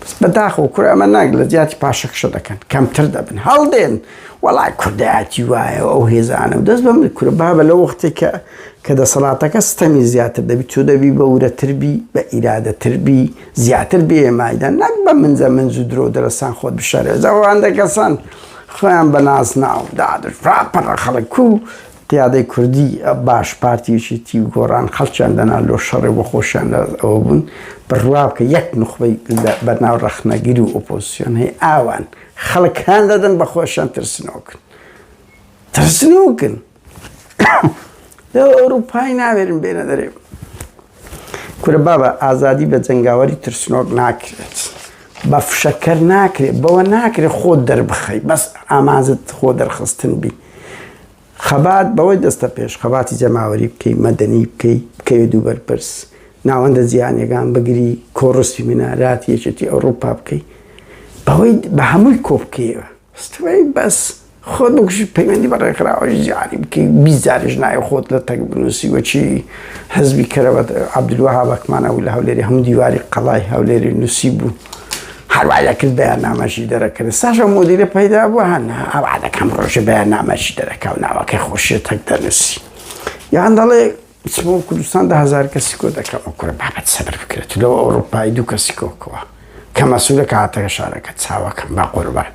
بەس بەداخەوە کورە ئەمە ناگ لە جیاتی پاشەکشە دەکەن کەمتر دەبن هەڵدێن وەڵای کوردایەتی وایە ئەو هێزانە و دەست بەم کورە بابە لە وەختێک کە کە دەسەڵاتەکە ستەمی زیاتر دەبی تۆ دەبی بە ورەتربی بە ئیرادەتربی زیاتر بێمایدا نەک بە منزە منز و درۆ دەرەسان خۆت بشارێزەوەوان دەکەسان خۆیان بە ناز ناو دادر پڕە خەڵک و قیادەی کوردی باش پارتی یەکێتی و گۆڕان خەڵکیان دەنا لۆ شەڕێ بۆ خۆشیان لە ئەوە بوون بڕوا بکە یەک نوخبەی بەناو ڕەخنەگر و ئۆپۆزسیۆن هەی ئاوان خەڵک هان دەدەن بە خۆشیان ترسنۆکن ترسنۆکن لە ئەوروپای ناوێرن بێنە دەرێ کورە بابە ئازادی بە جەنگاوەری ترسنۆک ناکرێت بە فشەکەر ناکرێت بەوە ناکرێت خۆ دەربخەی بەس ئامازت خۆ دەرخستن بی خەبات بەوەی دەستە پێش خەباتی جەماوەری بکەی مەدەنی بکەی بکەوێت دوو بەرپرس ناوەندە جیانەکان بگری کۆڕستی مناراتی یەکێتی ئەوروپا بکەی بەوەی بە هەمووی کۆ بکەیەوە سترەی بەس خۆت بکوژی پەیوەندی بە ڕێکخراوەش زیادی بکەی بیزاریش نایە خۆت لە تەک بنووسی وەچی حزبی کەرەوە عبدالوهاب ئەکمان ئەو لە هەولێری هەموو دیواری قەڵای هەولێری نووسی بوو هەروایە کرد بەیان نامەشی دەرەکرد ساشە مدیرە پەیدا بوو هەن ئەوعادەکەم ڕۆژە بەیان نامەشی دەرەکە و ناوەکەی خۆشی تەک دەنووسی یان دەڵێ چمە و کوردستان دە هەزار کەسی کۆ دەکەم و کوڕە بابەت سەبر بکرێت تو لەوە ئەوڕۆپایی دوو کەسی کۆکەوە کە مەسوولە کە هاتەکە شارەکە چاوەکەم با قوربان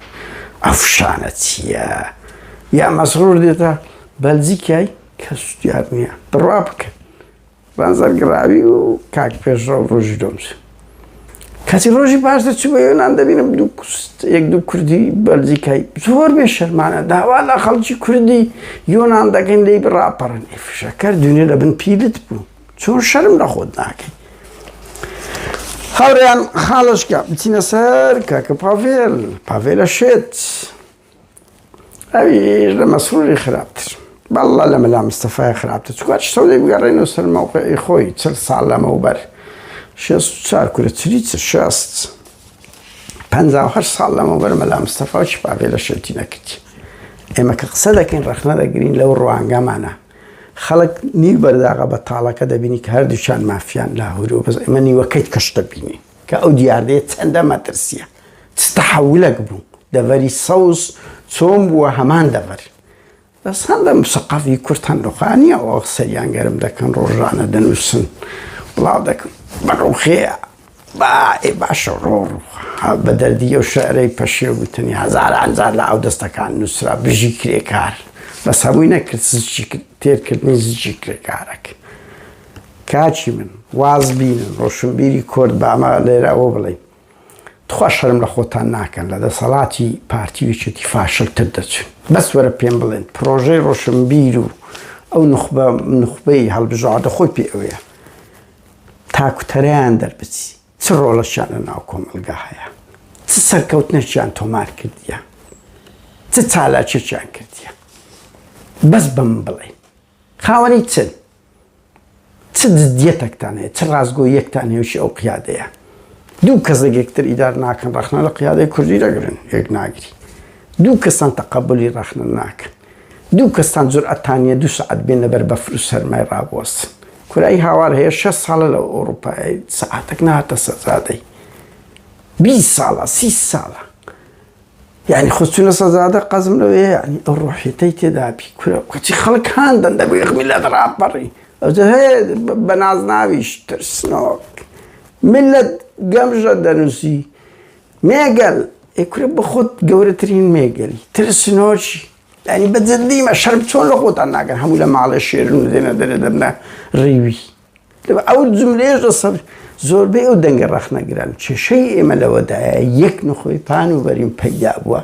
ئەو شانە چییە یا مەسرور دێتە بەلجیکای کەس دیار نییە بڕوا بکەن بەنزەرگراوی و کاک پێشڕەو ڕۆژی دۆمز کەچی ڕۆژی پاش دەچوو بە یۆنان دەبینم دوو یەک دوو کوردی بەلجیکای زۆر بێ شەرمانە داوا لە خەڵکی کوردی یۆنان دەگەن لی بڕاپەڕن فشەکەر دونێ لە بن پیلت بوو چۆن شەرم لە خۆت ناکەی هاوریان خاڵشکە بچینە سەر کاکە پاڤێل پاڤێلە شێت ئەویش لە مەسروری خراپتر بەڵڵا لە مەلا مستەفای خراپتر چکوات شتەو لێ بگەڕێن و سەر مەوقعی خۆی چل ساڵ لەمەوبەر شێست و چار کورە چلی چ شێست پەنجا و هەشت ساڵ لەمەوبەر مەلا مستەفا و چپاڤێ لە شێتی نەکردی ئێمە کە قسە دەکەین ڕەخنە دەگرین لەو ڕوانگەمانە خەڵک نیو بەرداغە بە تاڵەکە دەبینی کە هەردووچان مافیان لاهور و بەس ئێمە نیوەکەیت کەش دەبینین کە ئەو دیاردەیە چەندە مەترسیە چ تەحەولەک بوو دەڤەری سەوز چۆن بووە هەمان دەڤەر بەس هەم بە مسەقەفی کورد هەم ڕوخانیە ئەو قسەیان گەرم دەکەن ڕۆژانە دەنووسن بڵاو دەکەم بە ڕوخەیە باێ باشە ڕۆڕ بە دەردی ئەو شعرەی پەشێ وتنی هزار ئەنجار لە ئەو دەستەکان نووسرا بژی کرێکار بەس هەمووی نەکرد زیی تێرکردنی زیی کرێکارەکە کاکی من واز بینن ڕۆشنبیری کورد با ئەمە لێرە ئەوە بڵێین تخوا شەرم لە خۆتان ناکەن لە دەسەڵاتی پارتی و یەکێتی فاشلتر دەچن بەس وەرە پێم بڵێن پرۆژەی ڕۆشنبیر و ئەو نخبە نخبەی هەڵبژاردە خۆی پێ ئەوەیە تاکوتەرەیان دەربچی چ ڕۆڵەشیان لە ناو کۆمەلگا هەیە چ سەرکەوتنەشیان تۆمار کردیان چ چالاکێکیان کردیان بەس بەم بڵێن خاوەنی چن؟ چ جدیەتەکتان هەیە؟ چ ڕاستگۆییەکتان نێوشی ئەو قیادەیە؟ دوو کەس لە یەکتر ئیدار ناکەن، ڕەخنە لە قیادەی کوردی دەگرن، یەک ناگری. دوو کەستان تەقەبولی ڕەخنە ناکەن. دوو کەستان جورئەتان نییە دوو سەعات بێنە بەر بەفر و سەرمای ڕابوەستن. کورەی هاوار هەیە شەست ساڵە لە ئەوڕوپایە سەعاتەک نەهاتە سەرجادەی. بیست ساڵە، سی ساڵە. یعنی خۆ چونە سەزادە قەزم لەوەیە یعنی ئەو ڕۆحیەتەی تێدابی کورە کەچی خەڵک هاندەن دەبێ میلەت ڕاپەڕی ئەوجە هەیە بە نازناویش ترسنۆک میلەت گەمژە دەنووسی مێگەل ئێکورە بە خۆت گەورەترین مێگەلی ترسنۆکی یعنی بە جدیمە شەرم چۆن لە خۆتان ناگەن هەموو لە ماڵێ شێرن و دێنە دەرێ دەبنە ڕیوی ئەو جملەیەش سەر زۆربەی ئەو دەنگە ڕەخنەگران کێشەی ئێمە لەوەدایە یەک نخۆی پان و بەریم پەیدا بووە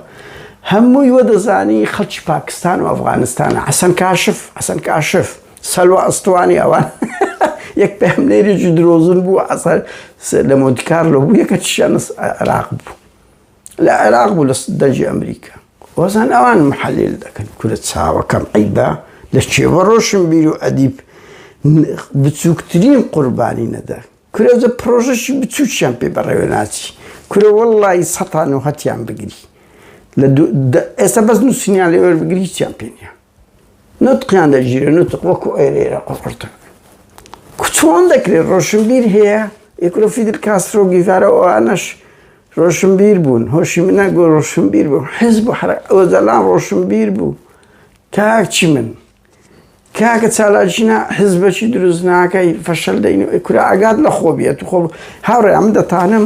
هەمووی وە دەزانی خەڵکی پاکستان و ئەفغانستان حەسەن کاشف حەسەن کاشف سەلوە ئەستوانی ئەوان یەک پێمنێریی درۆزن بوو ئەسەر لە مۆدیکار لە بوو یەکە چیانە عراق بوو لە عێراق بوو لە دەجی ئەمریکا وەزان ئەوان محەلێل دەکەن کورە چاوەکەم عیبا لە کێوە ڕۆشن بیر و ئەدیب بچووکترین قوربانی نەدا کورەزە پرۆژەشی بچووکیان پێ بەڕێوە ناچی کورە وەڵی سەتان و هەتیان بگری لە ئێستا بەس نووسنیان لێوەر بگری چیان پێنیە نوتقیان دەگیرێ نوتق وەکو ئێرێرە قڕقڕتە چۆن دەکرێت ڕۆشنبیر هەیە یکرۆ فیدل کاسترۆ گیڤارە ئەوانەش ڕۆشنبیر بوون هۆشی منە گۆ ڕۆشنبیر بوو حز بۆ حرە ئەوەزەلان ڕۆشنبیر بوو کاچی من کاکە چالاکینا حزبەکی دروست ناکەی فەشل دەین کورا ئاگات لە خۆ بێت خۆ هاوڕێ ئەم دەتانم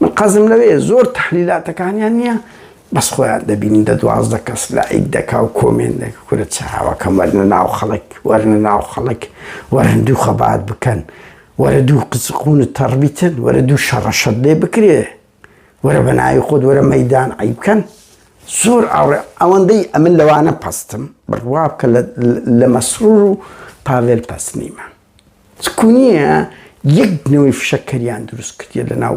من قەزم لەوەیە زۆر تەحلیلاتەکانیان نیە بەس خۆیان دەبینی دە دوازدە کەس لایک دەکا و کۆمێنت دەکە کورە چاوەکەم وەرنە ناو خەڵک وەرنە ناو خەڵک وەرە هەندوو خەبات بکەن وەرە دوو قسقونت تەڕبیتن وەرە دوو شەڕەشەت لێ بکرێ وەرە بە ناوی خۆت وەرە مەدان عی بکەن زۆر ئاڕێ ئەوەندەی ئەمن لەوانە پەستم بڕوا بکە لە مەسرور و پاڤێل پەست نیمە چکونیە یەک نەوەی فشەکەریان دروست کردیە لە ناو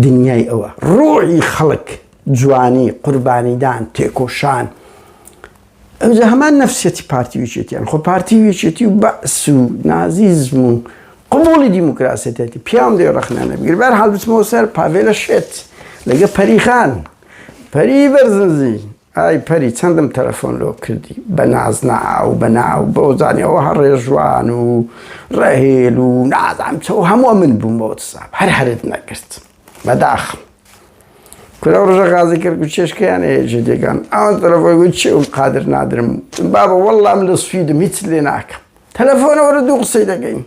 دنیای ئەوە ڕۆحی خەڵک جوانی قوربانیدان تێکۆشان ئەوجا هەمان نەفسیەتی پارتی ویچێتیان خۆ پارتی ویچێتی و بەعس و نازیزم و قوبولی دیموکراسەتێتی پیام دێ ڕخنانە بگیر بەر حال بچمەوە سەر پاڤێلە شێت لەگە پەریخان پەری بەرزنزی ئای پەری چەندم تەلەفۆن لۆ کردی بە ناز ناو بە ناو بەو زانی ئەوها ڕێژوان و ڕەهێل و نازانم چ و هەموو من بووم بە وەتساب هەر هەرت نەکرد بەداخم کورە و ڕژە غازی کرد و چێشکیان هەیە جێ دێگان ئەوان تەلەفۆن گوت چێ و قادر نادرم بابە وەڵام لە سویدم هیچ لێ ناکەم تەلەفۆنەوەرە دوو قسەی دەگەین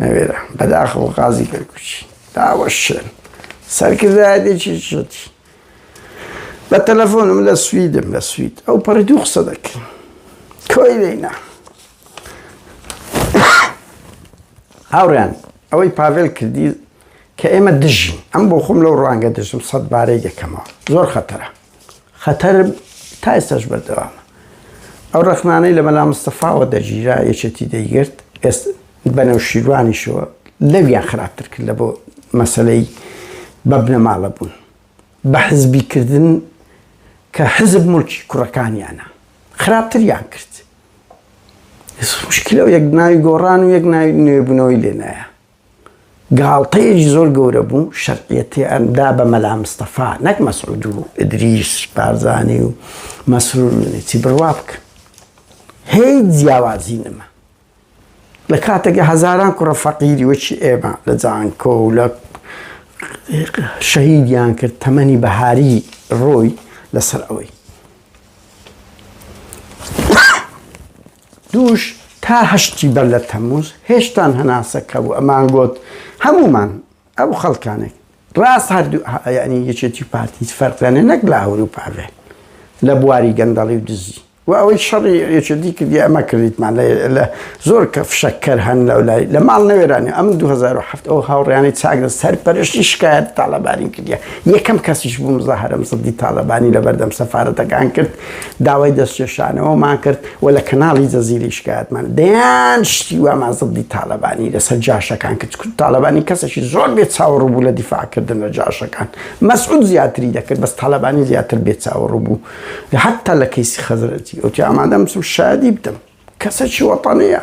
نەوێرا بەداخەوە قازی کەرکوچی داوە شوێن سەرکردایەتێکی شێتی بە تەلەفۆنم لە سویدم لە سوید ئەو پەڕی دوو قسە دەکەین کۆی لێنا هاوڕیان ئەوەی پاڤێل کردی کە ئێمە دژین ئەم بۆ خۆم لەو ڕوانگە دژم سەد بارەی دەکەمەوە زۆر خەتەرە خەتەر تا ئێستاش بەردەوامە ئەو ڕخنانەی لە مەلا مستەفاوە دەگیرا یەکێتی دەیگرت ئێست بەنەو شیروانیشەوە لەویان خراپتر کرد لە بۆ مەسلەی بە بنەماڵە بوون بە حزبیکردن کە حزب ملکی کوڕەکانیانە خراپتریان کرد مشکلە و یەک ناوی گۆڕان و یەک ناوی نوێبوونەوەی لێنایە گاڵتەیەکی زۆر گەورە بوو شەرعیەتیان دا بە مەلا مستەفا نەک مەسعود و ئیدریس بارزانی و مەسرور و نەچی بڕوا بکە هیچ جیاوازی نەما لە کاتێکە هەزاران کوڕە فەقیری وەکی ئێمە لە جانکۆ و لە شەهیدیان کرد تەمەنی بەهاری ڕۆی لەسەر ئەوەی دووش تا هەشتی بەر لە تەموز هێشتان هەناسە کە بوو ئەمان گۆت هەموومان ئەو خەڵکانێک ڕاست هەردوو یعنی یەکێتی پارتیت فەرقێنێ نەک لە ئەوروپا بێ لە بواری گەندەڵی و دزی و ئەوەی شەڕی یەکێتی کردی ئەمە کردیتمان لە زۆر کە فشەکەر هەن لەو لای لە ماڵ نەوێرانی ئەم 2007 ئەو هاوڕیانی چاگرە سەر پەرشتی شکایەت تاالبانی کردە یەکەم کەسیش بوو مزاهرم سەدی تاالبانی لە بەردەم سەفاەتەکان کرد داوای دەستکێشانەوەمان کرد و لە کەناڵی جەزیرەی شکایەتمان دەیان شتی وامان زەبدی تاڵەبانی لەسەر جاشەکان کرد چکو تاڵەبانی کەسێکی زۆر بێ چاوەڕوو بوو لە دیفاعکردن لە جاشەکان مەسعود زیاتری دەکرد بەس تاڵەبانی زیاتر بێ چاوەڕوو بوو حتا لە کەیسی خەزرەتی ئەوتی ئامادەم بچم شادی بدەم کەسێکی وەتەنەیە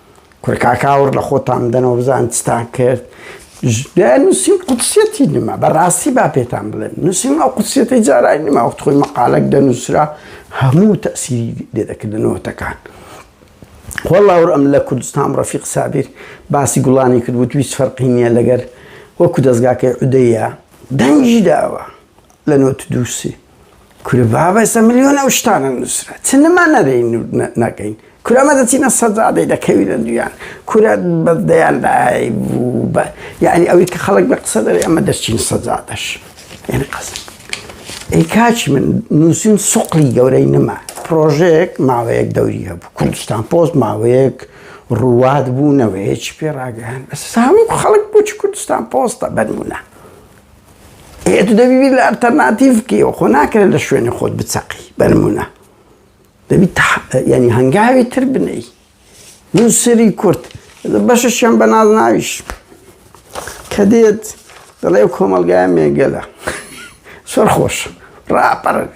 کورە کاکە ئاوڕ لە خۆتان بدەنەوە بزان چتان کرد نووسین قوتسیەتی نما بەڕاستی با پێتان بڵێن نووسین ئەو قوتسیەتی جارای نما وەخت خۆی مەقالەک دەنووسرا هەموو تەسیری لێ دەکردنەوەتەکان وەڵا ئەم لە کوردستان ڕەفیق سابیر باسی گوڵانی کرد وت هیچ فەرقی نییە لەگەر وەکو دەستگاکەی عودەیە دەنگی داوە لە نۆت دووسی کورە بابە ئێستا ملیۆن ئەو شتانە نووسرا چ نەما نەرەی نەکەین کورە مە دەچینە سەدادەی دەکەوی لە دویان کورە بە دەیان لای بوو بە یعنی ئەوی کە خەڵک بە قسە دەێ ئەمە دەچین سەدادەش یعنی قەز ئەی کاچی من نووسین سوقلی گەورەی نەما پرۆژێک ماوەیەک دەوری هەبوو کوردستان پۆست ماوەیەک ڕوات بوو نەوەیەکی پێ ڕاگەیان بەس هەموو خەڵک بچ کوردستان پۆستە بەرمونە ئێ تو دەبی بیر لە ئەلتەرناتیڤ بکەیەوە، خۆ ناکرێت لە شوێنی خۆت بچەقی، بەنمونە دەبی یانی هەنگاوی تر بنێی، نوسەری کورد بەشەشیان بە نازناویش کە دێت دەڵێ ئەو کۆمەڵگایە مێگەلە سەر خۆش ڕاپەڕێ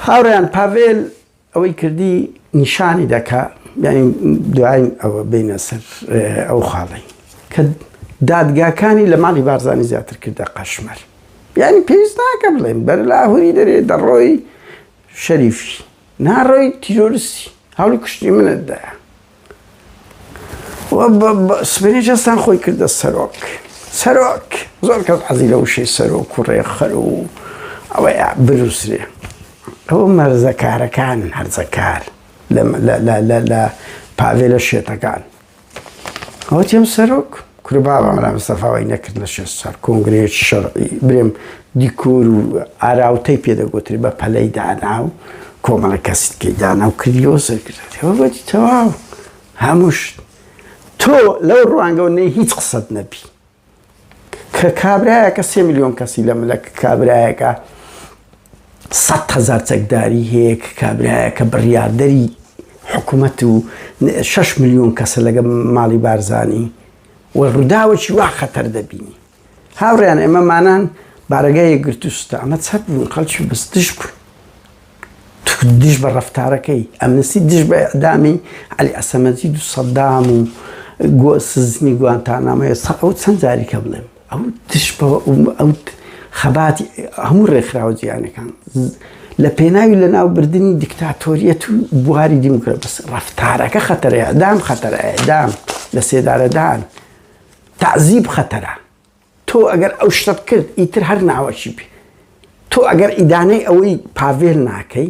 هاوڕێیان پاڤێل ئەوەی کردی نیشانی دەکا یعنی دوای ئەوە بینە سەر ئەو خاڵی کە دادگاکانی لە ماڵی بارزانانی زیاتر کردە قەشمەر یعنی پێویست ناکە بڵێن بەر لاهوری دەرێ دەڕۆی شەریفی ناڕۆی تیرۆرسی هەڵی کوشتی منت دایە سبینی جەستان خۆی کردە سەرۆک سەرۆک زۆر کەس حەزی لە وشەی سەرۆک و ڕێخەر و ئەوەی بنووسێ ئەوە مەرزەکارەکان هەرزەکار لە پاڤێلە شێتەکان ئەوە تێم سەرۆک کورە بابا مەلا مستەفا وای نەکرد لە شێست ساڵ کۆنگرەیەکی شەرعی برێم دیکۆر و ئاراوتەی پێ دەگوترێ بە پەلەی دانا و کۆمەڵە کەسی تێی دانا و کردیەوە سەرکردەوە گوتی تەواو هەموو شت تۆ لەو ڕوانگەەوە نەی هیچ قسەت نەبی کە کابراایەکە سێ میلیۆن کەسی لە ملە کابراایەکە سەد هەزار چەکداری هەیە کە کابرایەکە بڕیاردەری حکومەت و شش ملیۆن کەسە لەگە ماڵی بارزانی و ڕووداوەکی وا خەتەر دەبینی هاوڕیان ئێمەمانان بارەگای گرتوستە ئەمە چەپ بوون خەڵکی بستش بوون دژ بە ڕفتارەکەی ئەمنسی دژ بە ئەدامی علی ئەسەمەزی دو سەدام و گۆ سزنی گوانتانامەیە ئەو چەند جاریکە بڵێم ئەو دژ بە ئەو خەباتی هەموو ڕێکخراوە جیهانەکان لە پێناوی لەناوبردنی دیکتاتۆریەت و بواری دیموکرات بەس ڕفتارەکە خەتەرەیە دام خەتەرەیە دام لە سێدارەدان تعزیب خەتەرە تۆ ئەگەر ئەو شتە بکرد ئیتر هەر ناوەکی بێ تۆ ئەگەر ئیدانەی ئەوەی پاڤێل ناکەی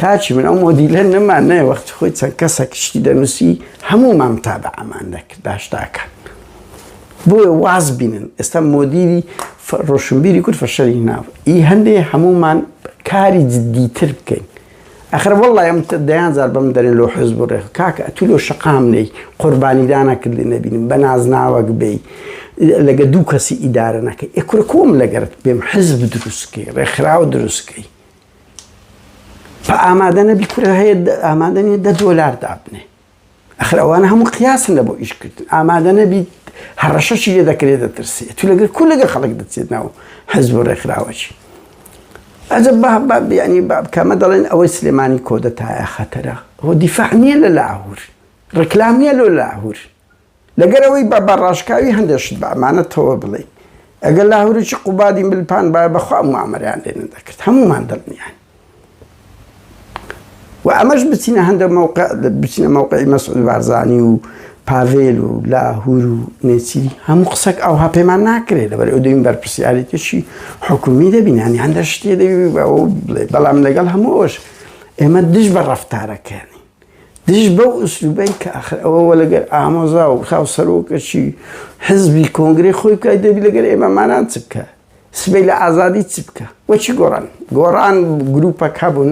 کاکی من ئەو مۆدیلە نەمان نایە وەختی خۆی چەند کەسێک شتی دەنووسی هەموومان تابعمان دەکرد باشتاکە بۆیە واز بینن ئێستا مۆدیری ڕۆشنبیری کورد فەشەری ناو ئی هەندێ هەموومان کاری جددیتر بکەین ئەخر وەڵی ئەم دەیان زار بەم دەرێن لۆ حز بڕێ کاکە ئەتو لۆ شقام نەی قوربانیدانە کردی نەبینم بە نازناوەک بی لەگە دوو کەسی ئیدارە نەکەی ئەکورە کۆم لەگەرت بێم حزب دروستکەی ڕێکخراوە دروستکەی ئامادە نەبی کورە هەیە ئامادە نیە دە دۆلار دابنێ ئەخر ئەوانە هەموو قیاسن لە بۆ ئیشکردن ئامادە نەبیت هەڕەشەشی لێ دەکرێت دەترسێ تو لەگەر کو لەگە خەڵک دەچێت ناو حەز بۆ ڕێکخراوەچی ئەجە بابیانی بابکەمە دەڵێن ئەوەی سلێمانی کۆدەتایە خەتەرە هۆ دیفاع نییە لە لاهور ڕکلام نیە لۆ لاهور لەگەر ئەوەی با بە ڕاشکاوی هەندێ شت بە ئەمانەتەوە بڵێین، ئەگەر لاهوریی قوبادی ملپان بایە بە خوا موئامەرەیان لێ نەدەکرد، هەموومان دڵنیاین. و ئەمەش بچینە هەندێ مەوقع، بچینە مەوقعی مەسعود بارزانی و پاڤێل و لاهور و نێچیری، هەموو قسەک ئەوها پێمان ناکرێ، لەبەر ئەوەی دەبین بەرپرسیاریتیی حکوومی دەبین، یانی هەندێ شتێ دەبی بەوە بڵێی، بەڵام لەگەڵ هەموو ئەوەش ئێمە دژ بە ڕەفتارەکەیانی. دژ بەو ئسلوبەی کە ئاخر ئەوە وە لەگەر ئامۆزا و خاو سەرۆکەچی حزبی کۆنگرەی خۆی بکای دەبی لەگەر ئێمە مانان چ بکە سبەی لە ئازادی چ بکە وە چی گۆڕان گۆڕان گروپەک هەبوون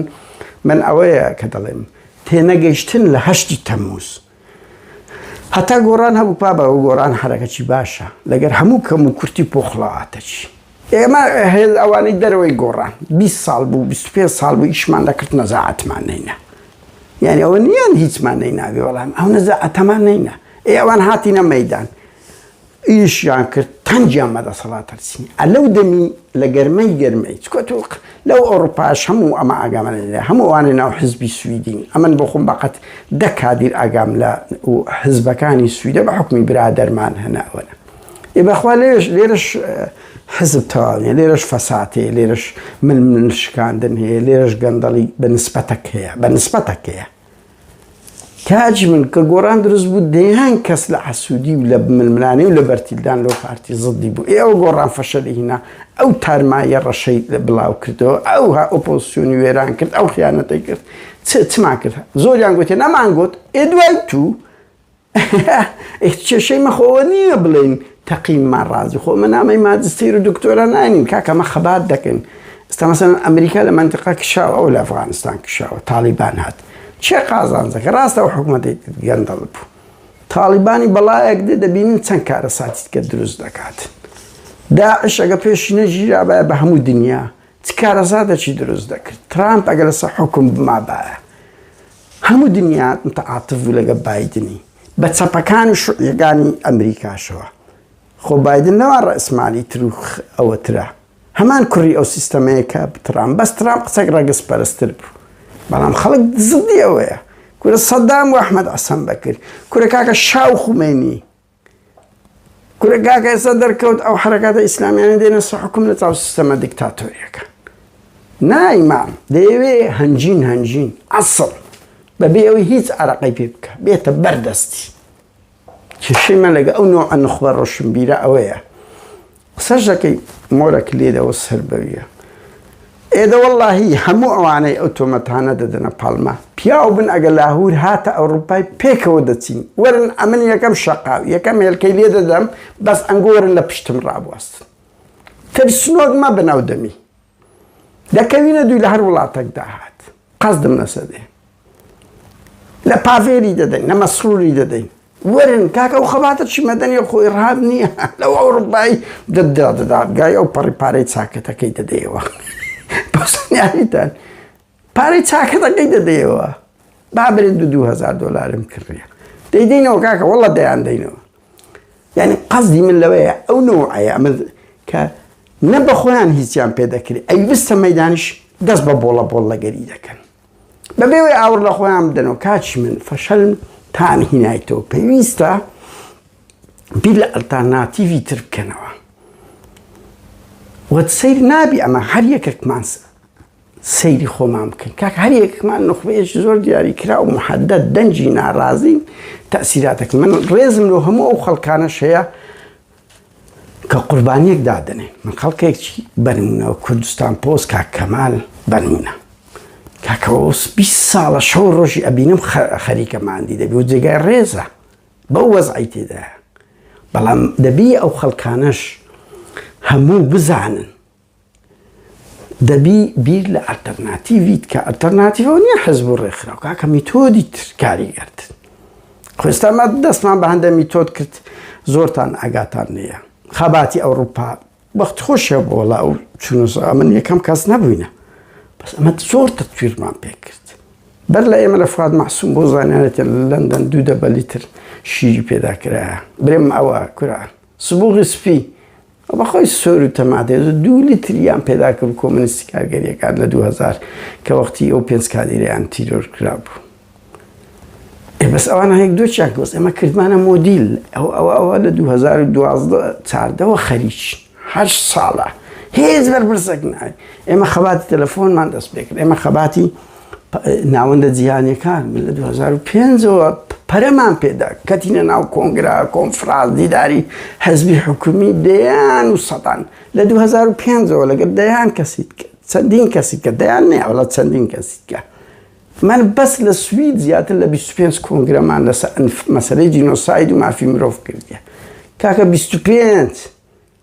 من ئەوەیە کە دەڵێم تێنەگەیشتن لە هەشتی تەموز هەتا گۆڕان هەبوو پا بە گۆڕان حرەکەچی باشە لەگەر هەموو کەم و کورتی پۆخڵەواتەچی ئێمە هێل ئەوانەی دەرەوەی گۆڕان بیست ساڵ بوو بیست و پێنج ساڵ بوو ئیشمان دەکرد نەزاعەتمان نەینا یانی ئەوە نیان هیچمان نەیناوی وەڵام ئەو نەزاعەتەمان نەینا ئێ ئەوان هاتینە مەیدان ئیشیان کرد تەنجیان مە دەسەڵات هەرسین ئە لەو دەمی لە گەرمەی گەرمەی چکۆت و لەو ئەوروپاش هەموو ئەمە ئاگامە لە هەموو ئەوانە ناو حزبی سویدین ئەمن بۆ خۆم بەقەت دە کادیر ئاگام لە حزبەکانی سویدە بە حکومی برادەرمان هەناوەە ئێ بەخوا لێش لێرەش حزب تەواویە لێرەش فەسات هەیە لێرەش من من شکاندن هەیە لێرەش گەندەڵی بە نسبەتەک هەیە بە نسبەتەک هەیە تاج من کە گۆران دروست بوو دەیان کەس لە عسوودی و لە ململانێ و لە بەرتیلدان لەو پارتی زدی بوو ئێوە گۆڕان فەشە لەهینا ئەو تارمایە ڕەشەی لە بڵاو کردەوە ئەو ها ئۆپۆسیۆنی وێران کرد ئەو خیانەتەی کرد چمان کرد زۆریان گوتێ نەمان گوت ئێ دوای تو ئێ کێشەی مە خۆوە نییە بڵێین تەقینمان ڕازی خۆ مە نامەی ماجستیر و دکتۆرا ناینین کاکە ئەمە خەبات دەکەین ئێستا مەسەن ئەمریکا لە مەنتقا کشاوە ئەو لە ئەفغانستان کشاوە تاڵیبان هات چێ قازانجەکە ڕاستە و حکوومەتی گەندەڵ بوو تاڵیبانی بەڵایەک دێ دەبینین چەند کارە ساتیت کە دروست دەکات داعشەگە پێش نەژیرابایە بە هەموو دنیا چ کارەزادەکی دروست دەکرد ترامپ ئەگە لەسە حکم بمابایە هەموو دنیا متعاتف بوو لەگەڵ بایدنی بە چەپەکان و شوعیەکانی ئەمریکاشەوە خۆ بایدن لەوان ڕەئسمالی تر و ئەوەترە هەمان کوڕی ئەو سیستەمەیە کە ترامپ بەس ترامپ قسەک ڕەگەز پەرستر بوو بەڵام خەڵک زدی ئەوەیە کورە سەدام و ئەحمەد عەسەن بەکر کورە کاکە شا و خومەینی کورە کاکە ئێستا دەرکەوت ئەو حرەکاتە ئیسلامیانە دێنە سە حکوم لە چاو سیستەمە دیکتاتۆریەکە نایمام دەیەوێ هەنجین هەنجین ئەسڵ بەبێ ئەوی هیچ عراقی پێ بکە بێتە بەردەستی کێشەی من لەگە ئەو نوع نخبە ڕۆشنبیرە ئەوەیە قسەش دەکەی مۆرە کلیلەوە سەر بەویە. ئێ دە وەڵاهی هەموو ئەوانەی ئەو تۆمەتانە دەدەنە پاڵما پیاو بن ئەگە لاهور هاتە ئەوڕوپای پێکەوە دەچین وەرن ئەمن یەکەم شەقاو یەکەم هێلکەی لێ دەدەم بەس ئەنگۆرن لە پشتم ڕابواستن ترسنۆک مەبن ئەو دەمی دەکەوینە دووی لەهەر وڵاتەک داهات قەسدم نەسەدێ لە پاڤێری دەدەین لە مەسروری دەدەین وەرن کاکە ئەو خەباتە چی مەدەنی خۆ ئێڕهاب نییە لەو ئەوروپایی دەدا دەدادگای ئەو پەڕی پارەی چاکەتەکەی دەدەیەوە بەسنیاریتان پارەی چاکەتەکەی دەدەیەوە با برێت دو دوو هەزار دۆلارم کڕیە دەیدەینەوە کاکە وەڵە دەیان دەینەوە یعنی قەزدی من لەوەیە ئەو نەوەیە ئەمە کە نە بە خۆیان هیچیان پێ دەکرێت ئەی بستە مەدانش دەست بە بۆڵە بۆڵ لەگەری دەکەن بەبێوەی ئاور لە خۆیان بدەنەوە کاچی من فەشەل تان هینایتەوە پێویستە بیر لە ئەلتاناتیڤی تر بکەنەوە وە سیر نابی ئەمە هەر یەکێکمانسە سەیری خۆمان بکەین کاکە هەر یەکمان نوخبەیەکی زۆر دیاری کرا و محەدەد دەنجی ناڕازین تەسیراتەکە من ڕێزم لۆ هەموو ئەو خەڵکانە شەیە کە قوربانیەک دادنێ من خەڵکێکی بەرمونەوە کوردستان پۆز کا کەمال بەرمونە کاکەوەس 20 ساڵە شەو ڕۆژی ئەبینم خەریکەماندی دەبی و جێگای ڕێزە بەو وەزعی تێدا بەڵام دەبی ئەو خەڵکانەش هەموو بزانن دەبی بیر لە ئەلتەرناتیڤیت کە ئەلتەرناتیڤەوە نیە حزب و ڕێکخراو کاکە میتۆدی تر کاریگەرتن خۆ ئێستا ما دەستمان بە هەندە میتۆد کرد زۆرتان ئاگاتان لێیە خەباتی ئەوروپا بەخت خۆشە بۆ وڵا و چونوسا من یەکەم کەس نەبووینە بەس ئەمە زۆر تەتویرمان پێکرد بەر لە ئێمە لە فات مەحسوم بۆ زانانێتە لە لەندەن دوو دەبەلی تر شیری پێدا کرایە برێم ئەوە کورە سبوغی سپی ئەو بەخۆی سۆرو تەماتێز و دوو لیتر یان پێدا کرد کۆمۆنیستی کارگەریەکان لە دوو هەزار کە وەختی ئەو پێنج کادیرەیان تیرۆر کرابوو ئێ بەس ئەوان هەیەک دۆچیان کە بەس ئێمە کردمانە مۆدیل ئەو ئەوە ئەوە لە دوو هەزار و دوازدە چاردەوە خەریک هەشت ساڵە هێز بەرپرسەک ناوی ئێمە خەباتی تەلەفۆنمان دەست پێ کرد ئێمە خەباتی ناوەندە جیهانیەکان من لە 2005 ەوە پەرەمان پێدا کەتینە ناو کۆنگرا کۆنفراز دیداری حەزبی حکومی دەیان و سەدان لە 2005 ەوە لەگەر دەیان کەسیت چەندین کەسی کە دەیان نێوەڵە چەندین کەسیکە من بەس لە سوید زیاتر لە 25 کۆنگرەمان لەس مەسەی جینۆساید و مافی مرۆڤ کردە کاکە 25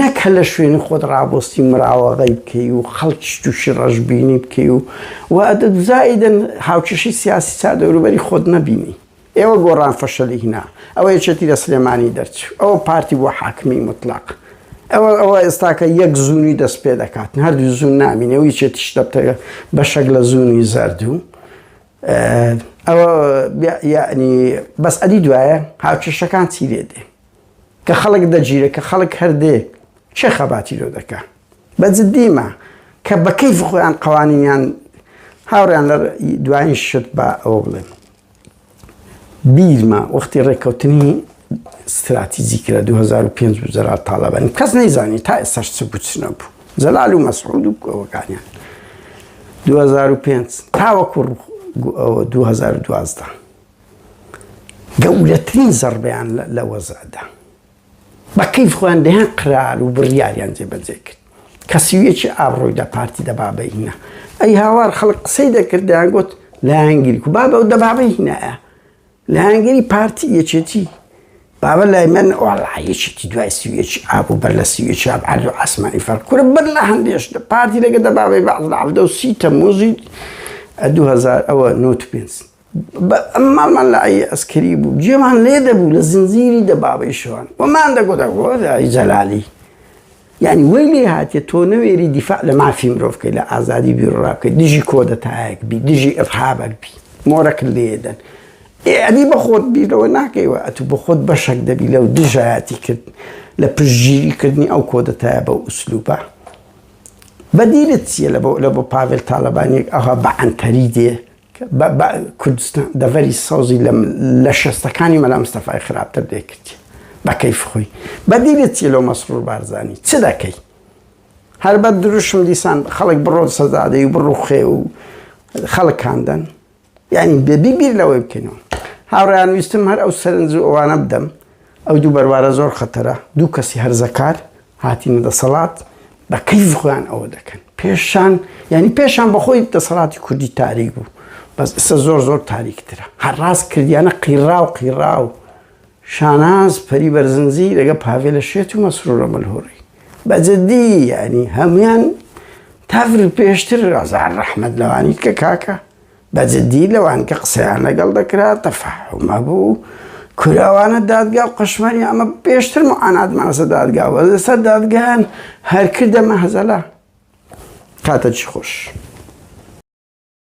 نەک هەر لە شوێنی خۆت ڕابۆستی مراوەغەی بکەی و خەڵکیش تووشی ڕەشبینی بکەی و و ئەدەت زائیدەن هاوکێشەی سیاسی چا دەوروبەری خۆت نەبینی ئێوە گۆڕان فەشەلی هینا ئەوە یەکێتی لە سلێمانی دەرچوو ئەوە پارتی بۆ حاکمی مطلق ئەوە ئەوە ئێستاکە یەک زوونی دەست پێ دەکات هەردوو زوون نامینەوە یەکێتیش دەبتەگە بەشەک لە زوونی زەردوو ئەوە یعنی بەس ئەدی دوایە هاوکێشەکان چی لێ دێ کە خەڵک دەگیرێ کە خەڵک هەر دێ کێ خەباتی لۆ دەکا بە جدیمە کە بە کەیف خۆیان قەوانینیان هاوڕیان لە دوایین شت بە ئەوە بڵێم بیرمە وەختی ڕێککەوتنی ستراتیزی کرا 2005 بزرا تاالبانی کەس نەیزانی تا ئێستا چ بچنە بوو جەلال و مەسعود و کۆەکانیان 2005 تاوەکو 2012 گەورەترین زەڕبەیان لە وەزعدا بە کەیف خۆیان دەیان قرار و بڕیاریان جێبەجێ کرد کە سیویەکی ئابڕۆی دە پارتی دە بابە هینا ئەی هاوار خەڵک قسەی دەکرد دەیان گوت لایەنگیری کو بابە و دە بابە هینایە لایەنگیری پارتی یەکێتی بابە لای من ئۆڵایەکێتی دوای سویەکی ئاب و بەر لە سویەکی ئاب عەرز و ئاسمانی فەرق کورە بەر لە هەندێش لە پارتی لەگە دە بابەی بەعز لە عەفدە و سی تەموزی 2000 ئەوە نۆت پێنج ماڵمان لە ئای عەسکەری بوو، گوێمان لێ دەبوو لە زنجیری دەبابەی شەوان و مان دەگوت ئەی جەلالی یانی وەی لێ هاتیە تۆ نەوێری دیفاع لە مافی مرۆڤ بکەی لە ئازادی بیروڕا بکەی دژی کۆدەتایەک بی دژی ئیرهابەک بی مۆرەکت لێ دەن ئەدی بە خۆت بیر لەوە ناکەیوە ئەتوو بە خۆت بەشەک دەبی لەو دژایەتی کرد لە پشتگیری کردنی ئەو کۆدەتایە بەو ئوسلوبە بەدیلت چییە لە بۆ لە بۆ پاڤێل تاڵەبانیەک ئەها بە عەنتەری دێ بە کوردستان دەڤەری سەوزی لە شەستەکانی مەلا مستەفای خراپتر دەیکردی بە کەیف خۆی بەدیلت چی لەو مەسرور بارزانانی چ دەکەی هەر بە دروشم دیسان خەڵک بڕۆن سەزادەی و بڕوخێ و خەڵکاندن یعنی بێبی بیر لەوەی بکەینەوە هاوڕیان ویستم هەر ئەو سەرنج و ئەوانە بدەم ئەو دوو بەروارە زۆر خەتەرە، دوو کەسی هەرزەکار هاتینە دەسەڵات بە کەیف خۆیان ئەوە دەکەن، پێشان یانی پێشان بەخۆی دەسەڵاتی کوردی تاریک بوو، بەس ئیستا زۆر زۆر تاریکترە، هەر ڕاست کردیانە قیڕاو قیڕاو، شاناز پەری بەرزنجی لەگەڵ پاڤێلە شێت و مەسرورە ملهوڕی، بە جدی یانی هەموویان تەڤ پێشتر ئازار ڕەحمەت لەوانیت کە کاکە. بە جدی لەوان کە قسەیان لەگەڵ دەکرا تەفەهوم هەبوو کورە ئەوانە دادگا و قەشمەری ئەمە پێشتر معاناتمان لەسەر دادگا بوو لەسەر دادگایان هەر کردە مەهەزەلە کاتەکی خۆش.